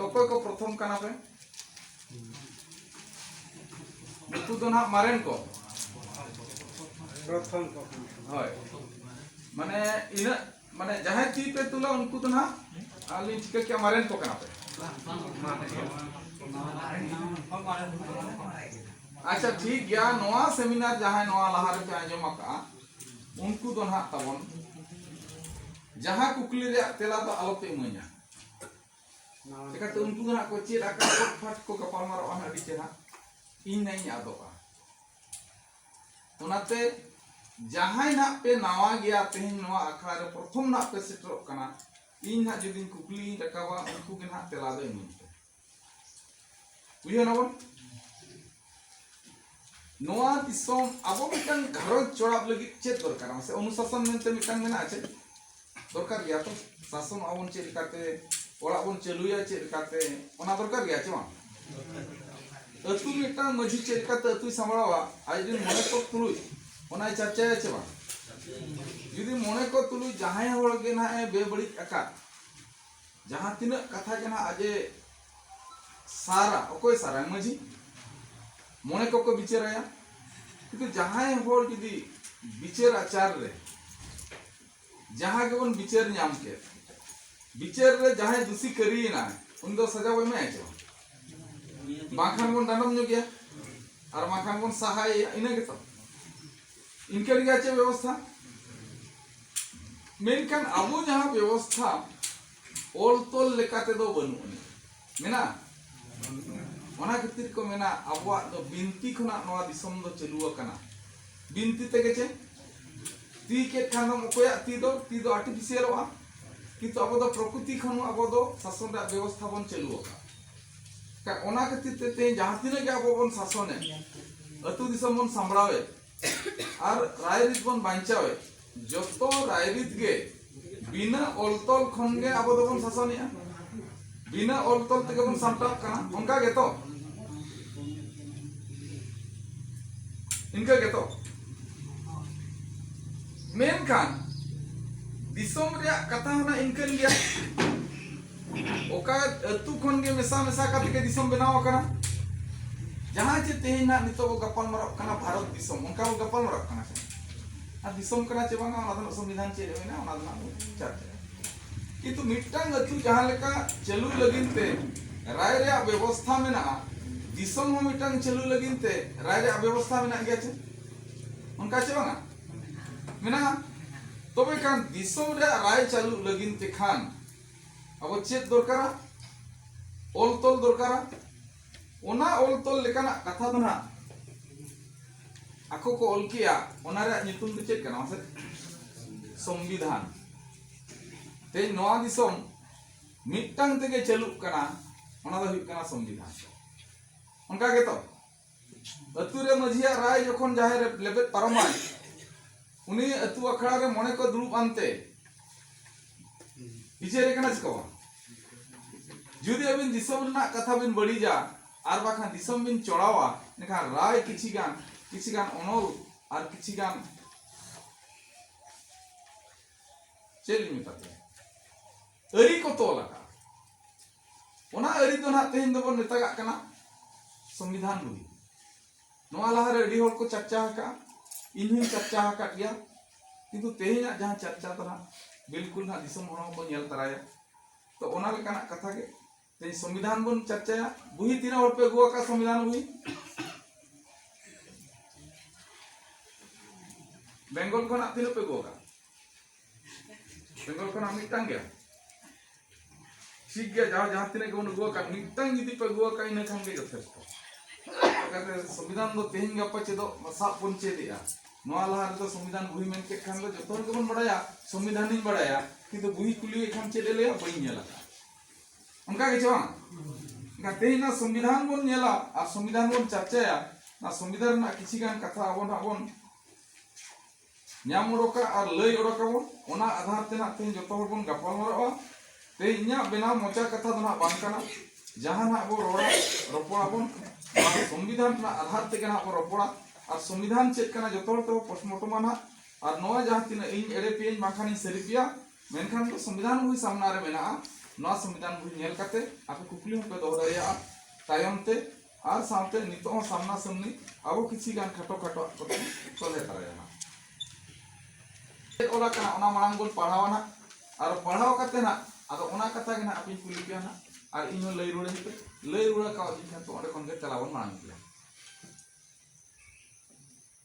ᱚᱠᱚᱭ ᱠᱚ ᱯᱨᱚᱛᱷᱚᱢ ᱠᱟᱱᱟ ᱯᱮ ᱱᱩᱠᱩ ᱫᱚ ᱱᱟᱦᱟᱜ ᱢᱟᱨᱮᱱ ᱠᱚ ᱯᱨᱚᱛᱷᱚᱢ ᱠᱚ ᱦᱳᱭ ᱢᱟᱱᱮ ᱤᱱᱟᱹᱜ ᱢᱟᱱᱮ ᱡᱟᱦᱟᱸᱭ ᱛᱤ ᱯᱮ ᱛᱩᱞᱟ ᱩᱱᱠᱩ ᱫᱚ ᱱᱟᱦᱟᱜ ᱟᱹᱞᱤᱧ ᱪᱤᱠᱟᱹ ᱠᱮᱜᱼᱟ ᱢᱟᱨᱮᱱ ᱠᱚ ᱠᱟᱱᱟ ᱯᱮ ᱟᱪᱪᱷᱟ ᱴᱷᱤᱠ ᱜᱮᱭᱟ ᱱᱚᱣᱟ ᱥᱮᱢᱤᱱᱟᱨ ᱡᱟᱦᱟᱸᱭ ᱱᱚᱣᱟ ᱞᱟᱦᱟ ᱨᱮᱯᱮ ᱟᱸᱡᱚᱢ ᱟᱠᱟᱜᱼᱟ ᱩᱱᱠᱩ ᱫᱚ ᱱᱟᱦᱟᱜ ᱛᱟᱵᱚᱱ ᱡᱟᱦᱟᱸ ᱠᱩᱠᱞᱤ ᱨᱮᱭᱟᱜ ᱛᱮᱞᱟ ᱫᱚ ᱟᱞᱚᱯᱮ ᱤᱢᱟᱹᱧᱟ ᱪᱮᱠᱟᱛᱮ ᱩᱱᱠᱩ ᱫᱚ ᱦᱟᱸᱜ ᱠᱚ ᱪᱮᱫ ᱟᱠᱟᱫ ᱠᱚ ᱯᱷᱟᱴ ᱠᱚ ᱜᱟᱯᱟᱞ ᱢᱟᱨᱟᱜᱼᱟ ᱦᱟᱸᱜ ᱟᱹᱰᱤ ᱪᱮᱦᱨᱟ ᱤᱧ ᱱᱟᱹᱧ ᱟᱫᱚᱜᱼᱟ ᱚᱱᱟᱛᱮ ᱡᱟᱦᱟᱸᱭ ᱱᱟᱜ ᱯᱮ ᱱᱟᱣᱟ ᱜᱮᱭᱟ ᱛᱮᱦᱮᱧ ᱱᱚᱣᱟ ᱟᱠᱷᱲᱟ ᱨᱮ ᱯᱨᱚᱛᱷᱚᱢ ᱱᱟᱜ ᱯᱮ ᱥᱮᱴᱮᱨᱚᱜ ᱠᱟᱱᱟ ᱤᱧ ᱱᱟᱜ ᱡᱩᱫᱤ ᱠᱩᱠᱞᱤᱧ ᱨᱟᱠᱟᱵᱟ ᱩᱱᱠᱩ ᱜᱮ ᱱᱟᱜ ᱛᱮᱞᱟ ᱫᱚ ᱤᱢᱟᱹᱧ ᱯᱮ ᱵᱩᱡᱷᱟᱹᱣ ᱱᱟᱵᱚᱱ ᱱᱚᱣᱟ ᱫᱤᱥᱚᱢ ᱟᱵᱚ ᱢᱤᱫᱴᱟᱝ ᱜᱷᱟᱨᱚᱸᱡᱽ ᱪᱚᱲᱟᱣ ᱞᱟᱹᱜᱤᱫ ᱪᱮᱫ ᱫᱚᱨᱠᱟᱨ ᱢᱟᱥᱮ ᱚᱱᱩᱥᱟᱥᱚᱱ ᱢᱮᱱᱛᱮ ᱢᱤᱫᱴᱟᱝ ᱢᱮᱱᱟᱜᱼᱟ ᱪᱮᱫ ᱫᱚᱨᱠᱟর ᱜᱮᱭᱟ ᱛᱚ ᱥᱟᱥᱚᱱ ᱟᱵᱚᱱ ᱪᱮᱫ ᱞᱮᱠᱟᱛᱮ ᱚᱲᱟᱜ ᱵᱚᱱ ᱪᱟᱹᱞᱩᱭᱟ ᱪᱮᱫ ᱞᱮᱠᱟᱛᱮ ᱚᱱᱟ ᱫᱚᱨᱠᱟর ᱜᱮᱭᱟ ᱪᱮ ᱵᱟᱝ ᱟᱹᱛᱩ ᱢᱤᱫᱴᱟᱝ ᱢᱟᱹᱡᱷᱤ ᱪᱮᱫ ᱞᱮᱠᱟᱛᱮ ᱟᱹᱛᱩᱭ ᱥᱟᱢᱵᱲᱟᱣᱟ ᱟᱡ ᱨᱮᱱ ᱢᱚᱬᱮ ᱠᱚ ᱛᱩᱞᱩᱡ ᱚᱱᱟᱭ ᱪᱟᱨᱪᱟᱭᱟ ᱪᱮ ᱵᱟᱝ ᱡᱩᱫᱤ ᱢᱚᱬᱮ ᱠᱚ ᱛᱩᱞᱩᱡ ᱡᱟᱦᱟᱸᱭ ᱦᱚᱲ ᱜᱮ ᱱᱟᱦᱟᱜ ᱮ ᱵᱮᱵᱟᱹᱲᱤᱡ ᱟᱠᱟᱫ ᱡᱟᱦᱟᱸ ᱛᱤᱱᱟᱹᱜ ᱠᱟᱛᱷᱟ ᱜᱮ ᱱᱟᱦᱟᱜ ᱟᱡᱮ ᱥᱟᱨᱟ ᱚᱠᱚᱭ ᱥᱟᱨᱟᱭ ᱢᱟᱹᱡᱷᱤ ᱢᱚᱬᱮ ᱠᱚᱠᱚ ᱵᱤᱪᱟᱹᱨᱟᱭᱟ ᱠᱤᱱᱛᱩ ᱡᱟᱦᱟᱸᱭ ᱦᱚᱲ ᱡᱩᱫᱤ ᱵᱤᱪᱟᱹᱨ ᱟᱪᱟᱨ ᱨᱮ ᱡᱟᱦᱟᱸ ᱜᱮᱵᱚᱱ ᱵᱤᱪᱟᱹᱨ ᱧᱟᱢ ᱠᱮᱫ ᱵᱤᱪᱟᱹᱨ ᱨᱮ ᱡᱟᱦᱟᱸᱭ ᱫᱩᱥᱤ ᱠᱟᱹᱨᱤᱭᱮᱱᱟ ᱩᱱᱤ ᱫᱚ ᱥᱟᱡᱟ ᱵᱚ ᱮᱢᱟᱭᱟ ᱪᱮ ᱵᱟᱝᱠᱷᱟᱱ ᱵᱚᱱ ᱰᱟᱸᱰᱚᱢ ᱧᱚᱜᱮᱭᱟ ᱟᱨ ᱵᱟᱝᱠᱷᱟᱱ ᱵᱚᱱ ᱥᱟᱦᱟᱭᱮᱭᱟ ᱤᱱᱟᱹ ᱜᱮᱛᱚ ᱤᱱᱠᱟᱹ ᱨᱮᱜᱮ ᱪᱮᱫ ᱵᱮᱵᱚᱥᱛᱷᱟ ᱢᱮᱱᱠᱷᱟᱱ ᱟᱵᱚ ᱡᱟᱦᱟᱸ ᱵᱮᱵᱚᱥᱛᱷᱟ ᱚᱞ ᱛᱚᱞ ᱞᱮᱠᱟ ᱛᱮᱫᱚ ᱵᱟᱹᱱᱩᱜ ᱟᱹᱱᱤᱡ ᱢᱮᱱᱟᱜᱼᱟ ᱚᱱᱟ ᱠᱷᱟᱹᱛᱤᱨ ᱠᱚ ᱢᱮᱱᱟ ᱟᱵᱚᱣᱟᱜ ᱫᱚ ᱵᱤᱱᱛᱤ ᱠᱷᱚᱱᱟᱜ ᱱᱚᱣᱟ ᱫᱤᱥᱚᱢ ᱫᱚ ᱪᱟᱹᱞᱩ ᱟᱠᱟᱱᱟ ᱵᱤᱱᱛᱤ ᱛᱮᱜᱮ ᱪᱮ ᱛᱤ ᱠᱮᱫ ᱠᱷᱟᱱ ᱫᱚᱢ ᱚᱠᱚᱭᱟᱜ ᱛᱤ ᱫᱚ ᱛᱤ ᱫᱚ ᱟᱨᱴᱤᱯᱷᱤᱥᱤᱭᱟᱞᱚᱜᱼᱟ ᱠᱤᱱᱛᱩ ᱟᱵᱚ ᱫᱚ ᱯᱨᱚᱠᱨᱤᱛᱤ ᱠᱷᱚᱱ ᱟᱵᱚ ᱫᱚ ᱥᱟᱥᱚᱱ ᱨᱮᱭᱟᱜ ᱵᱮᱵᱚᱥᱛᱷᱟ ᱵᱚᱱ ᱪᱟᱹᱞᱩ ᱟᱠᱟᱫᱟ ᱚᱱᱟ ᱠᱷᱟᱹᱛᱤᱨ ᱛᱮ ᱛᱮᱦᱮᱧ ᱡᱟᱦᱟᱸ ᱛᱤᱱᱟᱹᱜ ᱜᱮ ᱟᱵᱚ ᱵᱚᱱ ᱥᱟᱥᱚᱱᱮ ᱟᱹᱛᱩ ᱫᱤᱥᱚᱢ ᱵᱚᱱ ᱥᱟᱢᱵᱲᱟᱣᱮ ᱟᱨ ᱨᱟᱭᱨᱤᱛ ᱵᱚᱱ ᱵᱟᱧᱪᱟᱣᱮ ᱡᱚᱛᱚ ᱨᱟᱭᱨᱤᱛ ᱜᱮ ᱵᱤᱱᱟᱹ ᱚᱞᱛᱚᱞ ᱠᱷᱚᱱ ᱜᱮ ᱟᱵᱚ ᱫᱚᱵᱚᱱ ᱥᱟᱥᱚᱱᱮᱜᱼᱟ ᱵᱤᱱᱟᱹ ᱚᱞᱛᱚᱞ ᱛᱮᱜᱮ ᱵᱚᱱ ᱥᱟᱢᱴᱟᱣ ᱠᱟᱱᱟ ᱚᱱᱠᱟ ᱜᱮᱛᱚ ᱤᱱᱠᱟᱹ ᱜᱮᱛᱚ ᱢᱮᱱᱠᱷᱟᱱ ᱫᱤᱥᱚᱢ ᱨᱮᱭᱟᱜ ᱠᱟᱛᱷᱟ ᱦᱚᱸ ᱤᱱᱠᱟᱹᱱ ᱜᱮᱭᱟ ᱚᱠᱟ ᱟᱹᱛᱩ ᱠᱷᱚᱱ ᱜᱮ ᱢᱮᱥᱟ ᱢᱮᱥᱟ ᱠᱟᱛᱮ ᱜᱮ ᱫᱤᱥᱚᱢ ᱵᱮᱱᱟᱣ ᱟᱠᱟᱱᱟ ᱡᱟᱦᱟᱸ ᱪᱮ ᱛᱮᱦᱮᱧ ᱱᱟᱜ ᱱᱤᱛᱚᱜ ᱵᱚ ᱜᱟᱯᱟᱞ ᱢᱟᱨᱟᱜ ᱠᱟᱱᱟ ᱵᱷᱟᱨᱚᱛ ᱫᱤᱥᱚᱢ ᱚᱱᱠᱟ ᱵᱚ ᱜᱟᱯᱟᱞ ᱢᱟᱨᱟᱜ ᱠᱟᱱᱟ ᱥᱮ ᱟᱨ ᱫᱤᱥᱚᱢ ᱠᱟᱱᱟ ᱪᱮ ᱵᱟᱝᱟ ᱚᱱᱟ ᱫᱚ ᱥᱚᱝᱵᱤᱫᱷᱟᱱ ᱪᱮᱫ ᱨᱮ ᱢᱮᱱᱟᱜᱼᱟ ᱚᱱᱟ ᱫᱚ ᱱᱟᱜ ᱵᱚ ᱪᱟᱨᱪᱟᱭᱟ ᱠᱤᱱᱛᱩ ᱢᱤᱫᱴᱟᱝ ᱟᱹᱛᱩ ᱡᱟᱦᱟᱸ ᱞᱮᱠᱟ ᱪᱟᱹᱞᱩ ᱞᱟᱹᱜᱤᱫ ᱛᱮ ᱨᱟᱭ ᱨᱮᱭᱟᱜ ᱵᱮᱵᱚᱥᱛᱷᱟ ᱢᱮᱱᱟᱜᱼᱟ ᱫᱤᱥᱚᱢ ᱦᱚᱸ ᱢᱤᱫᱴᱟᱝ ᱪᱟᱹᱞᱩ ᱞᱟᱹᱜᱤᱫ ᱛᱮ ᱨᱟᱭ ᱨᱮᱭᱟᱜ ᱵᱮᱵᱚᱥᱛᱷᱟ ᱢᱮᱱᱟᱜ ᱜᱮᱭᱟ ᱪᱮ ᱚᱱᱠᱟ ᱪᱮ ᱵᱟᱝᱟ ᱢᱮᱱᱟᱜᱼᱟ ᱛᱚᱵᱮ ᱠᱷᱟᱱ ᱫᱤᱥᱚᱢ ᱨᱮᱭᱟᱜ ᱨᱟᱭ ᱪᱟᱹᱞᱩ ᱞᱟᱹᱜᱤᱫ ᱛᱮ ᱠᱷᱟᱱ ᱟᱵᱚ ᱪᱮᱫ ᱫᱚᱨᱠᱟᱨᱟ ᱚᱞ ᱛᱚᱞ ᱫᱚᱨᱠᱟᱨᱟ ᱚᱱᱟ ᱚᱞ ᱛᱚᱞ ᱞᱮᱠᱟᱱᱟᱜ ᱠᱟᱛᱷᱟ ᱫᱚ ᱱᱟᱜ ᱟᱠᱚ ᱠᱚ ᱚᱞ ᱠᱮᱜᱼᱟ ᱚᱱᱟ ᱨᱮᱭᱟᱜ ᱧᱩᱛᱩᱢ ᱫᱚ ᱪᱮᱫ ᱠᱟᱱᱟ ᱢᱟᱥᱮ ᱥᱚᱝᱵᱤᱫᱷᱟᱱ ᱛᱮᱦᱮᱧ ᱱᱚᱣᱟ ᱫᱤᱥᱚᱢ ᱢᱤᱫᱴᱟᱝ ᱛᱮᱜᱮ ᱪᱟᱹᱞᱩᱜ ᱠᱟᱱᱟ ᱚᱱᱟ ᱫᱚ ᱦᱩᱭᱩᱜ ᱠᱟᱱᱟ ᱥᱚᱝᱵᱤᱫᱷᱟᱱ ᱚᱱᱠᱟ ᱜᱮᱛᱚ ᱟᱹᱛᱩ ᱨᱮ ᱢᱟᱹᱡᱷᱤᱭᱟᱜ ᱨᱟᱭ ᱡᱚᱠᱷᱚᱱ ᱡᱟᱦᱮᱨ ᱨᱮ ᱞᱮᱵᱮᱫ ᱯᱟᱨᱚᱢᱟᱭ ᱩᱱᱤ ᱟᱹᱛᱩ ᱟᱠᱷᱲᱟ ᱨᱮ ᱢᱚᱬᱮ ᱠᱚ ᱫᱩᱲᱩᱵ ᱟᱱᱛᱮ ᱵᱤᱪᱟᱹᱨᱮ ᱠᱟᱱᱟ ᱪᱮᱠᱟ ᱵᱟᱝ ᱡᱩᱫᱤ ᱟᱹᱵᱤᱱ ᱫᱤᱥᱚᱢ ᱨᱮᱱᱟᱜ ᱠᱟᱛᱷᱟ ᱵᱤᱱ ᱵᱟᱹᱲᱤᱡᱟ ᱟᱨ ᱵᱟᱠᱷᱟᱱ ᱫᱤᱥᱚᱢ ᱵᱤᱱ ᱪᱚᱲᱟᱣᱟ ᱮᱱᱠᱷᱟᱱ ᱨᱟᱭ ᱠᱤᱪᱷᱤ ᱜᱟᱱ ᱠᱤᱪᱷᱤ ᱜᱟᱱ ᱚᱱᱚᱞ ᱟᱨ ᱠᱤᱪᱷᱤ ᱜᱟᱱ ᱪᱮᱫ ᱞᱤᱧ ᱢᱮᱛᱟ ᱯᱮᱭᱟ ᱟᱹᱨᱤ ᱠᱚ ᱛᱚᱞ ᱟᱠᱟᱫ ᱚᱱᱟ ᱟᱹᱨᱤ ᱫᱚ ᱱᱟᱜ ᱛᱮᱦᱮᱧ ᱫᱚᱵᱚᱱ ᱢᱮᱛᱟᱜᱟᱜ ᱠᱟᱱᱟ ᱥᱚᱝᱵᱤᱫᱷᱟᱱ ᱵᱚᱞᱮ ᱱᱚᱣᱟ ᱞᱟᱦᱟᱨᱮ ᱟᱹᱰᱤ ᱦᱚᱲ ᱠᱚ ᱪᱟᱨᱪᱟ ᱟᱠᱟᱫᱼᱟ ᱤᱧ ᱦᱚᱸᱧ ᱪᱟᱨᱪᱟ ᱟᱠᱟᱫ ᱜᱮᱭᱟ ᱠᱤᱱᱛᱩ ᱛᱮᱦᱮᱧᱟᱜ ᱡᱟᱦᱟᱸ ᱪᱟᱨᱪᱟ ᱫᱚ ᱱᱟᱜ ᱵᱤᱞᱠᱩᱞ ᱱᱟᱜ ᱫᱤᱥᱚᱢ ᱦᱚᱲ ᱦᱚᱸᱠᱚ ᱧᱮᱞ ᱛᱟᱨᱟᱭᱟ ᱛᱚ ᱚᱱᱟ ᱞᱮᱠᱟᱱᱟᱜ ᱠᱟᱛᱷᱟ ᱜᱮ ᱛᱮᱦᱮᱧ ᱥᱚᱝᱵᱤᱫᱷᱟᱱ ᱵᱚᱱ ᱪᱟᱨᱪᱟᱭᱟ ᱵᱩᱦᱤ ᱛᱤᱱᱟᱹᱜ ᱦᱚᱲ ᱯᱮ ᱟᱹᱜᱩ ᱟᱠᱟᱫ ᱥᱚᱝᱵᱤᱫᱷᱟᱱ ᱵᱩᱦᱤ ᱵᱮᱝᱜᱚᱞ ᱠᱷᱚᱱᱟᱜ ᱛᱤᱱᱟᱹᱜ ᱯᱮ ᱟᱹᱜᱩ ᱟᱠᱟᱫ ᱵᱮᱝᱜᱚᱞ ᱠᱷᱚᱱᱟᱜ ᱢᱤᱫᱴᱟᱝ ᱜᱮ ᱴᱷᱤᱠ ᱜᱮᱭᱟ ᱡᱟᱦᱟᱸ ᱡᱟᱦᱟᱸ ᱛᱤᱱᱟᱹᱜ ᱜᱮᱵᱚᱱ ᱟᱹᱜᱩ ᱟᱠᱟᱫ ᱢᱤᱫᱴᱟᱝ ᱡᱩᱫᱤ ᱯᱮ ᱟᱹᱜᱩ ᱟᱠᱟᱫ ᱤᱱᱟᱹ ᱠᱷᱟᱱ ᱜᱮ ᱡᱚᱛᱷᱮᱥᱴᱚ ᱪᱤᱠᱟᱹᱛᱮ ᱥᱚᱝᱵᱤᱫᱷᱟᱱ ᱫᱚ ᱛᱮᱦᱮᱧ ᱜᱟᱯᱟ ᱪᱮᱫᱚᱜ ᱥᱟᱵ ᱵᱚᱱ ᱪᱮᱫᱮᱜᱼᱟ ᱱᱚᱣᱟ ᱞᱟᱦᱟ ᱨᱮᱫᱚ ᱥᱚᱝᱵᱤᱫᱷᱟᱱ ᱵᱩᱦᱤ ᱢᱮᱱ ᱠᱮᱫ ᱠᱷᱟᱱ ᱫᱚ ᱡᱚᱛᱚ ᱦᱚᱲ ᱜᱮᱵᱚᱱ ᱵᱟᱲᱟᱭᱟ ᱥᱚᱝᱵᱤᱫᱷᱟᱱᱤᱧ ᱵᱟᱲᱟᱭᱟ ᱠᱤᱱᱛᱩ ᱵᱩᱦᱤ ᱠᱩᱞᱤᱭᱮ ᱠᱷᱟᱱ ᱪᱮᱫ ᱮ ᱞᱟᱹᱭᱟ ᱵᱟᱹᱧ ᱧᱮᱞ ᱟᱠᱟᱫ ᱚᱱᱠᱟ ᱜᱮ ᱪᱮ ᱵᱟᱝ ᱮᱱᱠᱷᱟᱱ ᱛᱮᱦᱮᱧ ᱱᱚᱣᱟ ᱥᱚᱝᱵᱤᱫᱷᱟᱱ ᱵᱚᱱ ᱧᱮᱞᱟ ᱟᱨ ᱥᱚᱝᱵᱤᱫᱷᱟᱱ ᱵᱚᱱ ᱪᱟᱨᱪᱟᱭᱟ ᱱᱚᱣᱟ ᱥᱚᱝᱵᱤᱫᱷᱟᱱ ᱨᱮᱱᱟᱜ ᱠᱤᱪᱷᱤ ᱜᱟᱱ ᱠᱟᱛᱷᱟ ᱟᱵᱚ ᱱᱟᱜ ᱵᱚᱱ ᱧᱟᱢ ᱚᱰᱚᱠᱟ ᱟᱨ ᱞᱟᱹᱭ ᱚᱰᱚᱠᱟᱵᱚᱱ ᱚᱱᱟ ᱟᱫᱷᱟᱨ ᱛᱮ ᱱᱟᱜ ᱛᱮᱦᱮᱧ ᱡᱚᱛᱚ ᱦᱚᱲ ᱵᱚᱱ ᱜᱟᱯᱟᱞᱢᱟᱨᱟᱜᱼᱟ ᱛᱮᱦᱮᱧ ᱤᱧᱟᱹᱜ ᱵᱮᱱᱟᱣ ᱢᱚᱪᱟ ᱠᱟᱛᱷᱟ ᱫᱚ ᱱᱟᱜ ᱵᱟᱝ ᱠᱟᱱᱟ ᱡᱟᱦᱟᱸ ᱱᱟᱜ ᱵᱚ ᱨᱚᱲᱟ ᱨᱚᱯᱚᱲᱟᱵᱚᱱ ᱥᱚᱝᱵᱤᱫᱷᱟᱱ ᱨᱮᱱᱟᱜ ᱟᱫᱷᱟᱨ ᱛᱮᱜᱮ ᱱᱟᱜ ᱵᱚ ᱨᱚᱯᱚᱲᱟ ᱟᱨ ᱥᱚᱝᱵᱤᱫᱷᱟᱱ ᱪᱮᱫ ᱠᱟᱱᱟ ᱡᱚᱛᱚ ᱦᱚᱲ ᱛᱮᱵᱚ ᱯᱳᱥᱴᱢᱚᱨᱴᱚᱢᱟ ᱱᱟᱜ ᱟᱨ ᱱᱚᱣᱟ ᱡᱟᱦᱟᱸ ᱛᱤᱱᱟᱹᱜ ᱤᱧ ᱮᱲᱮ ᱯᱮᱭᱟᱹᱧ ᱵᱟᱝᱠᱷᱟᱱ ᱤᱧ ᱥᱟᱹᱨᱤ ᱯᱮᱭᱟ ᱢᱮᱱᱠᱷᱟᱱ ᱫᱚ ᱥᱚᱝᱵᱤᱫᱷᱟᱱ ᱵᱚᱦᱤ ᱥᱟᱢᱱᱟ ᱨᱮ ᱢᱮᱱᱟᱜᱼᱟ ᱱᱚᱣᱟ ᱥᱚᱝᱵᱤᱫᱷᱟᱱ ᱵᱚᱦᱤ ᱧᱮᱞ ᱠᱟᱛᱮ ᱟᱯᱮ ᱠᱩᱠᱞᱤ ᱦᱚᱸᱯᱮ ᱫᱚᱦᱚ ᱫᱟᱲᱮᱭᱟᱜᱼᱟ ᱛᱟᱭᱚᱢ ᱛᱮ ᱟᱨ ᱥᱟᱶᱛᱮ ᱱᱤᱛᱚᱜ ᱦᱚᱸ ᱥᱟᱢᱱᱟ ᱥᱟᱢᱱᱤ ᱟᱵᱚ ᱠᱤᱪᱷᱤ ᱜᱟᱱ ᱠᱷᱟᱴᱚ ᱠᱷᱟᱴᱚ ᱟᱜ ᱠᱚᱛᱮ ᱥᱚᱞᱦᱮ ᱫᱟᱲᱮᱭᱟᱜᱼᱟ ᱪᱮᱫ ᱚᱞ ᱟᱠᱟᱱᱟ ᱚᱱᱟ ᱢᱟᱲᱟᱝ ᱵᱚᱱ ᱯᱟᱲᱦᱟᱣᱟ ᱱᱟᱜ ᱟᱨ ᱯᱟᱲᱦᱟᱣ ᱠᱟᱛᱮ ᱱᱟᱜ ᱟᱫᱚ ᱚᱱᱟ ᱠᱟᱛᱷᱟ ᱜᱮ ᱱᱟᱜ ᱟᱯᱮᱧ ᱠᱩᱞᱤ ᱯᱮᱭᱟ ᱱᱟᱜ ᱟᱨ ᱤᱧ ᱦᱚᱸ ᱞᱟᱹᱭ ᱨᱩᱣᱟᱹᱲᱟᱹᱧ ᱯᱮ ᱞᱟᱹᱭ ᱨᱩᱣᱟᱹᱲ ᱠᱟᱣᱫᱤᱧ ᱠᱷᱟᱱ ᱛᱚ ᱚᱸᱰᱮ ᱠᱷᱚᱱ ᱜᱮ ᱛᱮᱞᱟ ᱵᱚᱱ ᱢᱟᱲᱟᱝ ᱤᱫᱤᱭᱟ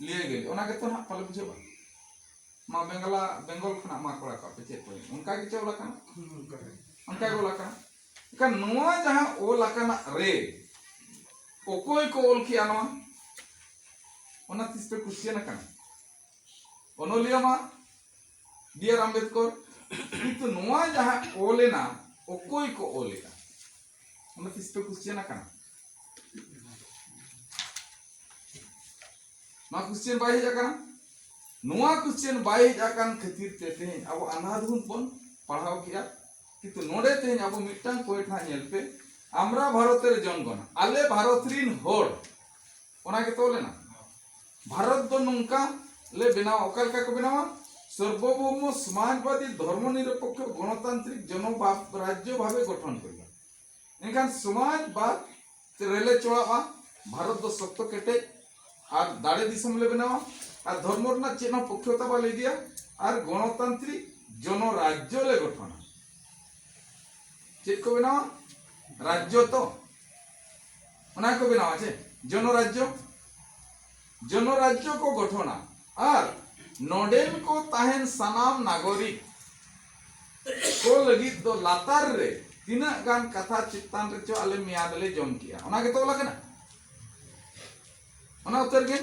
ᱞᱤᱭᱟᱹ ᱜᱮᱞᱮ ᱚᱱᱟ ᱜᱮᱛᱚ ᱱᱟᱜ ᱯᱟᱞᱮ ᱵᱩᱡᱷᱟᱹᱜ ᱵᱟᱝ ᱢᱟ ᱵᱮᱝᱜᱚᱞᱟ ᱵᱮᱝᱜᱚᱞ ᱠᱷᱚᱱᱟᱜ ᱢᱟ ᱠᱚᱲᱟ ᱠᱚ ᱟᱯᱮ ᱪᱮᱫ ᱯᱮ ᱚᱱᱠᱟ ᱜᱮ ᱪᱮ ᱚᱞ ᱟᱠᱟᱱᱟ ᱚᱱᱠᱟ ᱜᱮ ᱚᱞ ᱟᱠᱟᱱᱟ ᱮᱱᱠᱷᱟᱱ ᱱᱚᱣᱟ ᱡᱟᱦᱟᱸ ᱚᱞ ᱟᱠᱟᱱᱟ ᱨᱮ ᱚᱠᱚᱭ ᱠᱚ ᱚᱞ ᱠᱮᱜᱼᱟ ᱱᱚᱣᱟ ᱚᱱᱟ ᱛᱤᱥ ᱯᱮ ᱠᱩᱥᱪᱮᱱ ᱟᱠᱟᱱᱟ ᱚᱱᱚᱞᱤᱭᱟᱹ ᱢᱟ ᱵᱤ ᱟᱨ ᱟᱢᱵᱮᱫᱠᱚᱨ ᱠᱤᱱᱛᱩ ᱱᱚᱣᱟ ᱡᱟᱦᱟᱸ ᱚᱞᱮᱱᱟ ᱚᱠᱚᱭ ᱠᱚ ᱚᱞᱮᱜᱼᱟ ᱚᱱᱟ ᱛᱤᱥ ᱯᱮ ᱠᱩᱥᱪᱮᱱ ᱟᱠᱟᱱᱟ ᱱᱚᱣᱟ ᱠᱩᱥᱪᱮᱱ ᱵᱟᱭ ᱦᱮᱡ ᱟᱠᱟᱱᱟ ᱱᱚᱣᱟ ᱠᱩᱥᱪᱮᱱ ᱵᱟᱭ ᱦᱮᱡ ᱟᱠᱟᱱ ᱠᱷᱟᱹᱛᱤᱨ ᱛᱮ ᱛᱮᱦᱮᱧ ᱟᱵᱚ ᱟᱱᱟᱫᱷᱩᱱ ᱵᱚᱱ ᱯᱟᱲᱦᱟᱣ ᱠᱮᱜᱼᱟ ᱠᱤᱱᱛᱩ ᱱᱚᱰᱮ ᱛᱮᱦᱮᱧ ᱟᱵᱚ ᱢᱤᱫᱴᱟᱝ ᱯᱚᱭᱮᱱᱴ ᱦᱟᱸᱜ ᱧᱮᱞ ᱯᱮ ᱟᱢᱨᱟ ᱵᱷᱟᱨᱚᱛ ᱨᱮ ᱡᱚᱱᱜᱚᱱᱟ ᱟᱞᱮ ᱵᱷᱟᱨᱚᱛ ᱨᱤᱱ ᱦᱚᱲ ᱚᱱᱟ ᱜᱮ ᱛᱚᱞ ᱮᱱᱟ ᱵᱷᱟᱨᱚᱛ ᱫᱚ ᱱᱚᱝᱠᱟ ᱞᱮ ᱵᱮᱱᱟᱣᱟ ᱚᱠᱟ ᱞᱮᱠᱟ ᱠᱚ ᱵᱮᱱᱟᱣᱟ ᱥᱚᱨᱵᱚᱵᱷᱳᱢ ᱥᱚᱢᱟᱡᱽᱵᱟᱫᱤ ᱫᱷᱚᱨᱢᱚ ᱱᱤᱨᱚᱯᱮᱠᱷᱚ ᱜᱚᱱᱚᱛᱟᱱᱛᱨᱤᱠ ᱡᱚᱱᱚᱵᱟᱫ ᱨᱟᱡᱽᱡᱚ ᱵᱷᱟᱵᱮ ᱜᱚᱴᱷᱚᱱ ᱦᱩᱭᱩᱜᱼᱟ ᱮᱱᱠᱷᱟᱱ ᱥᱚᱢᱟᱡᱽᱵᱟᱫ ᱨᱮᱞᱮ ᱪᱚᱲᱟᱜᱼᱟ ᱵᱷᱟᱨᱚᱛ ᱫᱚ ᱥᱚᱠᱛᱚ ᱠᱮᱴᱮᱡ ᱟᱨ ᱫᱟᱲᱮ ᱫᱤᱥᱚᱢ ᱞᱮ ᱵᱮᱱᱟᱣᱟ ᱟᱨ ᱫᱷᱚᱨᱢᱚ ᱨᱮᱱᱟᱜ ᱪᱮᱫ ᱦᱚᱸ ᱯᱚᱠᱷᱭᱚᱛᱟ ᱵᱟᱞᱮ ᱤᱫᱤᱭᱟ ᱟᱨ ᱜᱚᱱᱚᱛᱟᱱᱛᱨᱤᱠ ᱡᱚᱱᱚ ᱨᱟᱡᱽᱡᱚ ᱞᱮ ᱜᱚᱴᱷᱚᱱᱟ ᱪᱮᱫ ᱠᱚ ᱵᱮᱱᱟᱣᱟ ᱨᱟᱡᱽᱡᱚ ᱛᱚ ᱚᱱᱟ ᱠᱚ ᱵᱮᱱᱟᱣᱟ ᱪᱮ ᱡᱚᱱᱚ ᱨᱟᱡᱽᱡᱚ ᱡᱚᱱᱚ ᱨᱟᱡᱽᱡᱚ ᱠᱚ ᱜᱚᱴᱷᱚᱱᱟ ᱟᱨ ᱱᱚᱰᱮᱱ ᱠᱚ ᱛᱟᱦᱮᱱ ᱥᱟᱱᱟᱢ ᱱᱟᱜᱚᱨᱤᱠ ᱠᱚ ᱞᱟᱹᱜᱤᱫ ᱫᱚ ᱞᱟᱛᱟᱨ ᱨᱮ ᱛᱤᱱᱟᱹᱜ ᱜᱟᱱ ᱠᱟᱛᱷᱟ ᱪᱮᱛᱟᱱ ᱨᱮᱪᱚ ᱟᱞᱮ ᱢᱮᱭᱟᱫ ᱞᱮ ᱡᱚᱢ ᱠᱮᱜᱼᱟ ᱚᱱᱟ ᱜᱮᱛᱚ ᱚᱞ ᱟᱠᱟᱱᱟ ᱚᱱᱟ ᱩᱛᱟᱹᱨ ᱜᱮ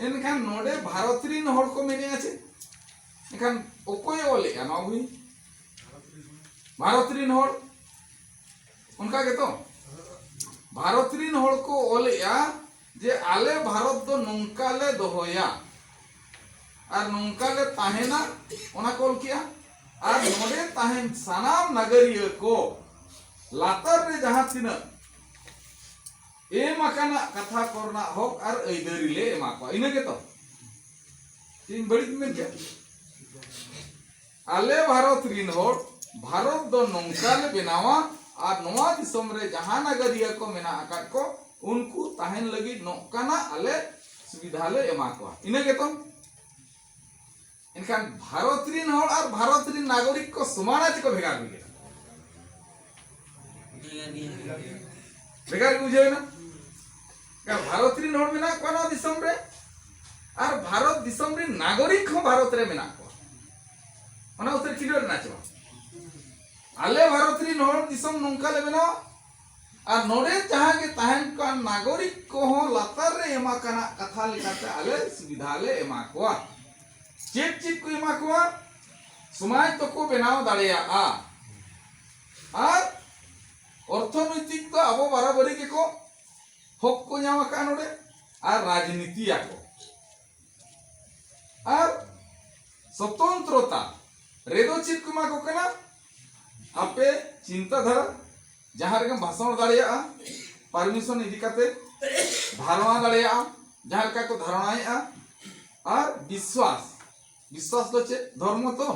ᱮᱱᱠᱷᱟᱱ ᱱᱚᱰᱮ ᱵᱷᱟᱨᱚᱛ ᱨᱤᱱ ᱦᱚᱲ ᱠᱚ ᱢᱮᱱᱮᱜᱼᱟ ᱪᱮ ᱮᱱᱠᱷᱟᱱ ᱚᱠᱚᱭ ᱚᱞᱮᱜᱼᱟ ᱱᱚᱣᱟ ᱵᱷᱩᱭ ᱵᱷᱟᱨᱚᱛ ᱨᱤᱱ ᱦᱚᱲ ᱚᱱᱠᱟ ᱜᱮᱛᱚ ᱵᱷᱟᱨᱚᱛ ᱨᱤᱱ ᱦᱚᱲ ᱠᱚ ᱚᱞᱮᱜᱼᱟ ᱡᱮ ᱟᱞᱮ ᱵᱷᱟᱨᱚᱛ ᱫᱚ ᱱᱚᱝᱠᱟ ᱞᱮ ᱫᱚᱦᱚᱭᱟ ᱟᱨ ᱱᱚᱝᱠᱟ ᱞᱮ ᱛᱟᱦᱮᱱᱟ ᱚᱱᱟ ᱠᱚ ᱚᱞ ᱠᱮᱜᱼᱟ ᱟᱨ ᱱᱚᱰᱮ ᱛᱟᱦᱮᱱ ᱥᱟᱱᱟᱢ ᱱᱟᱜᱟᱨᱤᱭᱟᱹ ᱠᱚ ᱞᱟᱛᱟᱨ ᱨᱮ ᱡᱟᱦᱟᱸ ᱛᱤᱱᱟᱹᱜ ᱮᱢ ᱟᱠᱟᱱᱟ ᱠᱟᱛᱷᱟ ᱠᱚᱨᱮᱱᱟᱜ ᱦᱚᱠ ᱟᱨ ᱟᱹᱭᱫᱟᱹᱨᱤ ᱞᱮ ᱮᱢᱟ ᱠᱚᱣᱟ ᱤᱱᱟᱹ ᱜᱮᱛᱚ ᱤᱧ ᱵᱟᱹᱲᱤᱡ ᱢᱮᱱ ᱠᱮᱫᱟ ᱟᱞᱮ ᱵᱷᱟᱨᱚᱛ ᱨᱤᱱ ᱦᱚᱲ ᱵᱷᱟᱨᱚᱛ ᱫᱚ ᱱᱚᱝᱠᱟ ᱞᱮ ᱵᱮᱱᱟᱣᱟ ᱟᱨ ᱱᱚᱣᱟ ᱫᱤᱥᱚᱢ ᱨᱮ ᱡᱟᱦᱟᱸ ᱱᱟᱜᱟᱨᱤᱭᱟᱹ ᱠᱚ ᱢᱮᱱᱟᱜ ᱟᱠᱟᱫ ᱠᱚ ᱩᱱᱠᱩ ᱛᱟᱦᱮᱱ ᱞᱟᱹᱜᱤᱫ ᱱᱚᱝᱠᱟᱱᱟᱜ ᱟᱞᱮ ᱥᱩᱵᱤᱫᱷᱟ ᱞᱮ ᱮᱢᱟ ᱠᱚᱣᱟ ᱤᱱᱟᱹ ᱜᱮᱛᱚ ᱮᱱᱠᱷᱟᱱ ᱵᱷᱟᱨᱚᱛ ᱨᱤᱱ ᱦᱚᱲ ᱟᱨ ᱵᱷᱟᱨᱚᱛ ᱨᱤᱱ ᱱᱟᱜᱚᱨᱤᱠ ᱠᱚ ᱥᱚᱢᱟᱱᱟ ᱪᱮᱠᱚ ᱵᱷᱮᱜᱟᱨ ᱵᱷᱮᱜᱟᱨ ᱵᱷᱮᱜᱟᱨ ᱜᱮ ᱵᱩᱡᱷᱟᱹᱣᱮᱱᱟ ᱵᱷᱟᱨᱚᱛ ᱨᱮᱱ ᱦᱚᱲ ᱢᱮᱱᱟᱜ ᱠᱚᱣᱟ ᱱᱚᱣᱟ ᱫᱤᱥᱚᱢ ᱨᱮ ᱟᱨ ᱵᱷᱟᱨᱚᱛ ᱫᱤᱥᱚᱢ ᱨᱮᱱ ᱱᱟᱜᱚᱨᱤᱠ ᱦᱚᱸ ᱵᱷᱟᱨᱚᱛ ᱨᱮ ᱢᱮᱱᱟᱜ ᱠᱚᱣᱟ ᱚᱱᱟ ᱩᱛᱟᱹᱨ ᱠᱷᱤᱞᱳᱰ ᱨᱮᱱᱟᱜ ᱪᱮ ᱵᱟᱝ ᱟᱞᱮ ᱵᱷᱟᱨᱚᱛ ᱨᱮᱱ ᱦᱚᱲ ᱫᱤᱥᱚᱢ ᱱᱚᱝᱠᱟ ᱞᱮ ᱵᱮᱱᱟᱣᱟ ᱟᱨ ᱱᱚᱰᱮ ᱡᱟᱦᱟᱸ ᱜᱮ ᱛᱟᱦᱮᱱ ᱠᱟᱱ ᱱᱟᱜᱚᱨᱤᱠ ᱠᱚᱦᱚᱸ ᱞᱟᱛᱟᱨ ᱨᱮ ᱮᱢᱟ ᱠᱟᱱᱟ ᱠᱟᱛᱷᱟ ᱞᱮᱠᱟᱛᱮ ᱟᱞᱮ ᱥᱩᱵᱤᱫᱷᱟ ᱞᱮ ᱮᱢᱟ ᱠᱚᱣᱟ ᱪᱮᱫ ᱪᱮᱫ ᱠᱚ ᱮᱢᱟ ᱠᱚᱣᱟ ᱥᱚᱢᱟᱡᱽ ᱫᱚᱠᱚ ᱵᱮᱱᱟᱣ ᱫᱟᱲᱮᱭᱟᱜᱼᱟ ᱟᱨ ᱚᱨᱛᱷᱚᱱᱳᱭᱛᱤᱠ ᱫᱚ ᱟᱵᱚ ᱵᱟᱨᱟᱵᱟᱹᱨᱤ ᱜᱮᱠᱚ ᱦᱚᱠ ᱠᱚ ᱧᱟᱢ ᱟᱠᱟᱫ ᱱᱚᱰᱮ ᱟᱨ ᱨᱟᱡᱽᱱᱤᱛᱤᱭᱟ ᱠᱚ ᱟᱨ ᱥᱚᱛᱚᱱᱛᱨᱚᱛᱟ ᱨᱮᱫᱚ ᱪᱮᱫ ᱠᱚ ᱮᱢᱟ ᱠᱚ ᱠᱟᱱᱟ ᱟᱯᱮ ᱪᱤᱱᱛᱟ ᱫᱷᱟᱨᱟ ᱡᱟᱦᱟᱸ ᱨᱮᱜᱮᱢ ᱵᱷᱟᱥᱚᱱ ᱫᱟᱲᱮᱭᱟᱜᱼᱟ ᱯᱟᱨᱢᱤᱥᱚᱱ ᱤᱫᱤ ᱠᱟᱛᱮ ᱫᱷᱟᱨᱚᱱᱟ ᱫᱟᱲᱮᱭᱟᱜᱼᱟ ᱡᱟᱦᱟᱸ ᱞᱮᱠᱟ ᱠᱚ ᱫᱷᱟᱨᱚᱱᱟᱭᱮᱫᱼᱟ ᱟᱨ ᱵᱤᱥᱣᱟᱥ ᱵᱤᱥᱣᱟᱥ ᱫᱚ ᱪᱮᱫ ᱫᱷᱚᱨᱢᱚ ᱛᱚ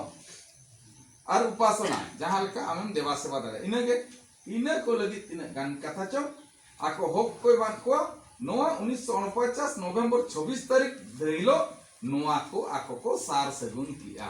ᱟᱨ ᱩᱯᱟᱥᱚᱱᱟ ᱡᱟᱦᱟᱸ ᱞᱮᱠᱟ ᱟᱢᱮᱢ ᱫᱮᱵᱟ ᱥᱮᱵᱟ ᱫᱟᱲᱮᱭᱟᱜᱼᱟ ᱤᱱᱟᱹᱜᱮ ᱤᱱᱟᱹ ᱠᱚ ᱞᱟᱹᱜᱤᱫ ᱛᱤᱱᱟᱹᱜ ᱜᱟᱱ ᱠᱟᱛᱷᱟ ᱪᱚ ᱟᱠᱚ ᱦᱚᱠ ᱠᱚ ᱮᱢᱟᱫ ᱠᱚᱣᱟ ᱱᱚᱣᱟ ᱩᱱᱤᱥᱥᱚ ᱩᱱᱯᱚᱪᱟᱥ ᱱᱚᱵᱷᱮᱢᱵᱚᱨ ᱪᱷᱚᱵᱵᱤᱥ ᱛᱟᱹᱨᱤᱠᱷ ᱦᱤᱞᱳᱜ ᱱᱚᱣᱟ ᱠᱚ ᱟᱠᱚ ᱠᱚ ᱥᱟᱨ ᱥᱟᱹᱜᱩᱱ ᱠᱮᱜᱼᱟ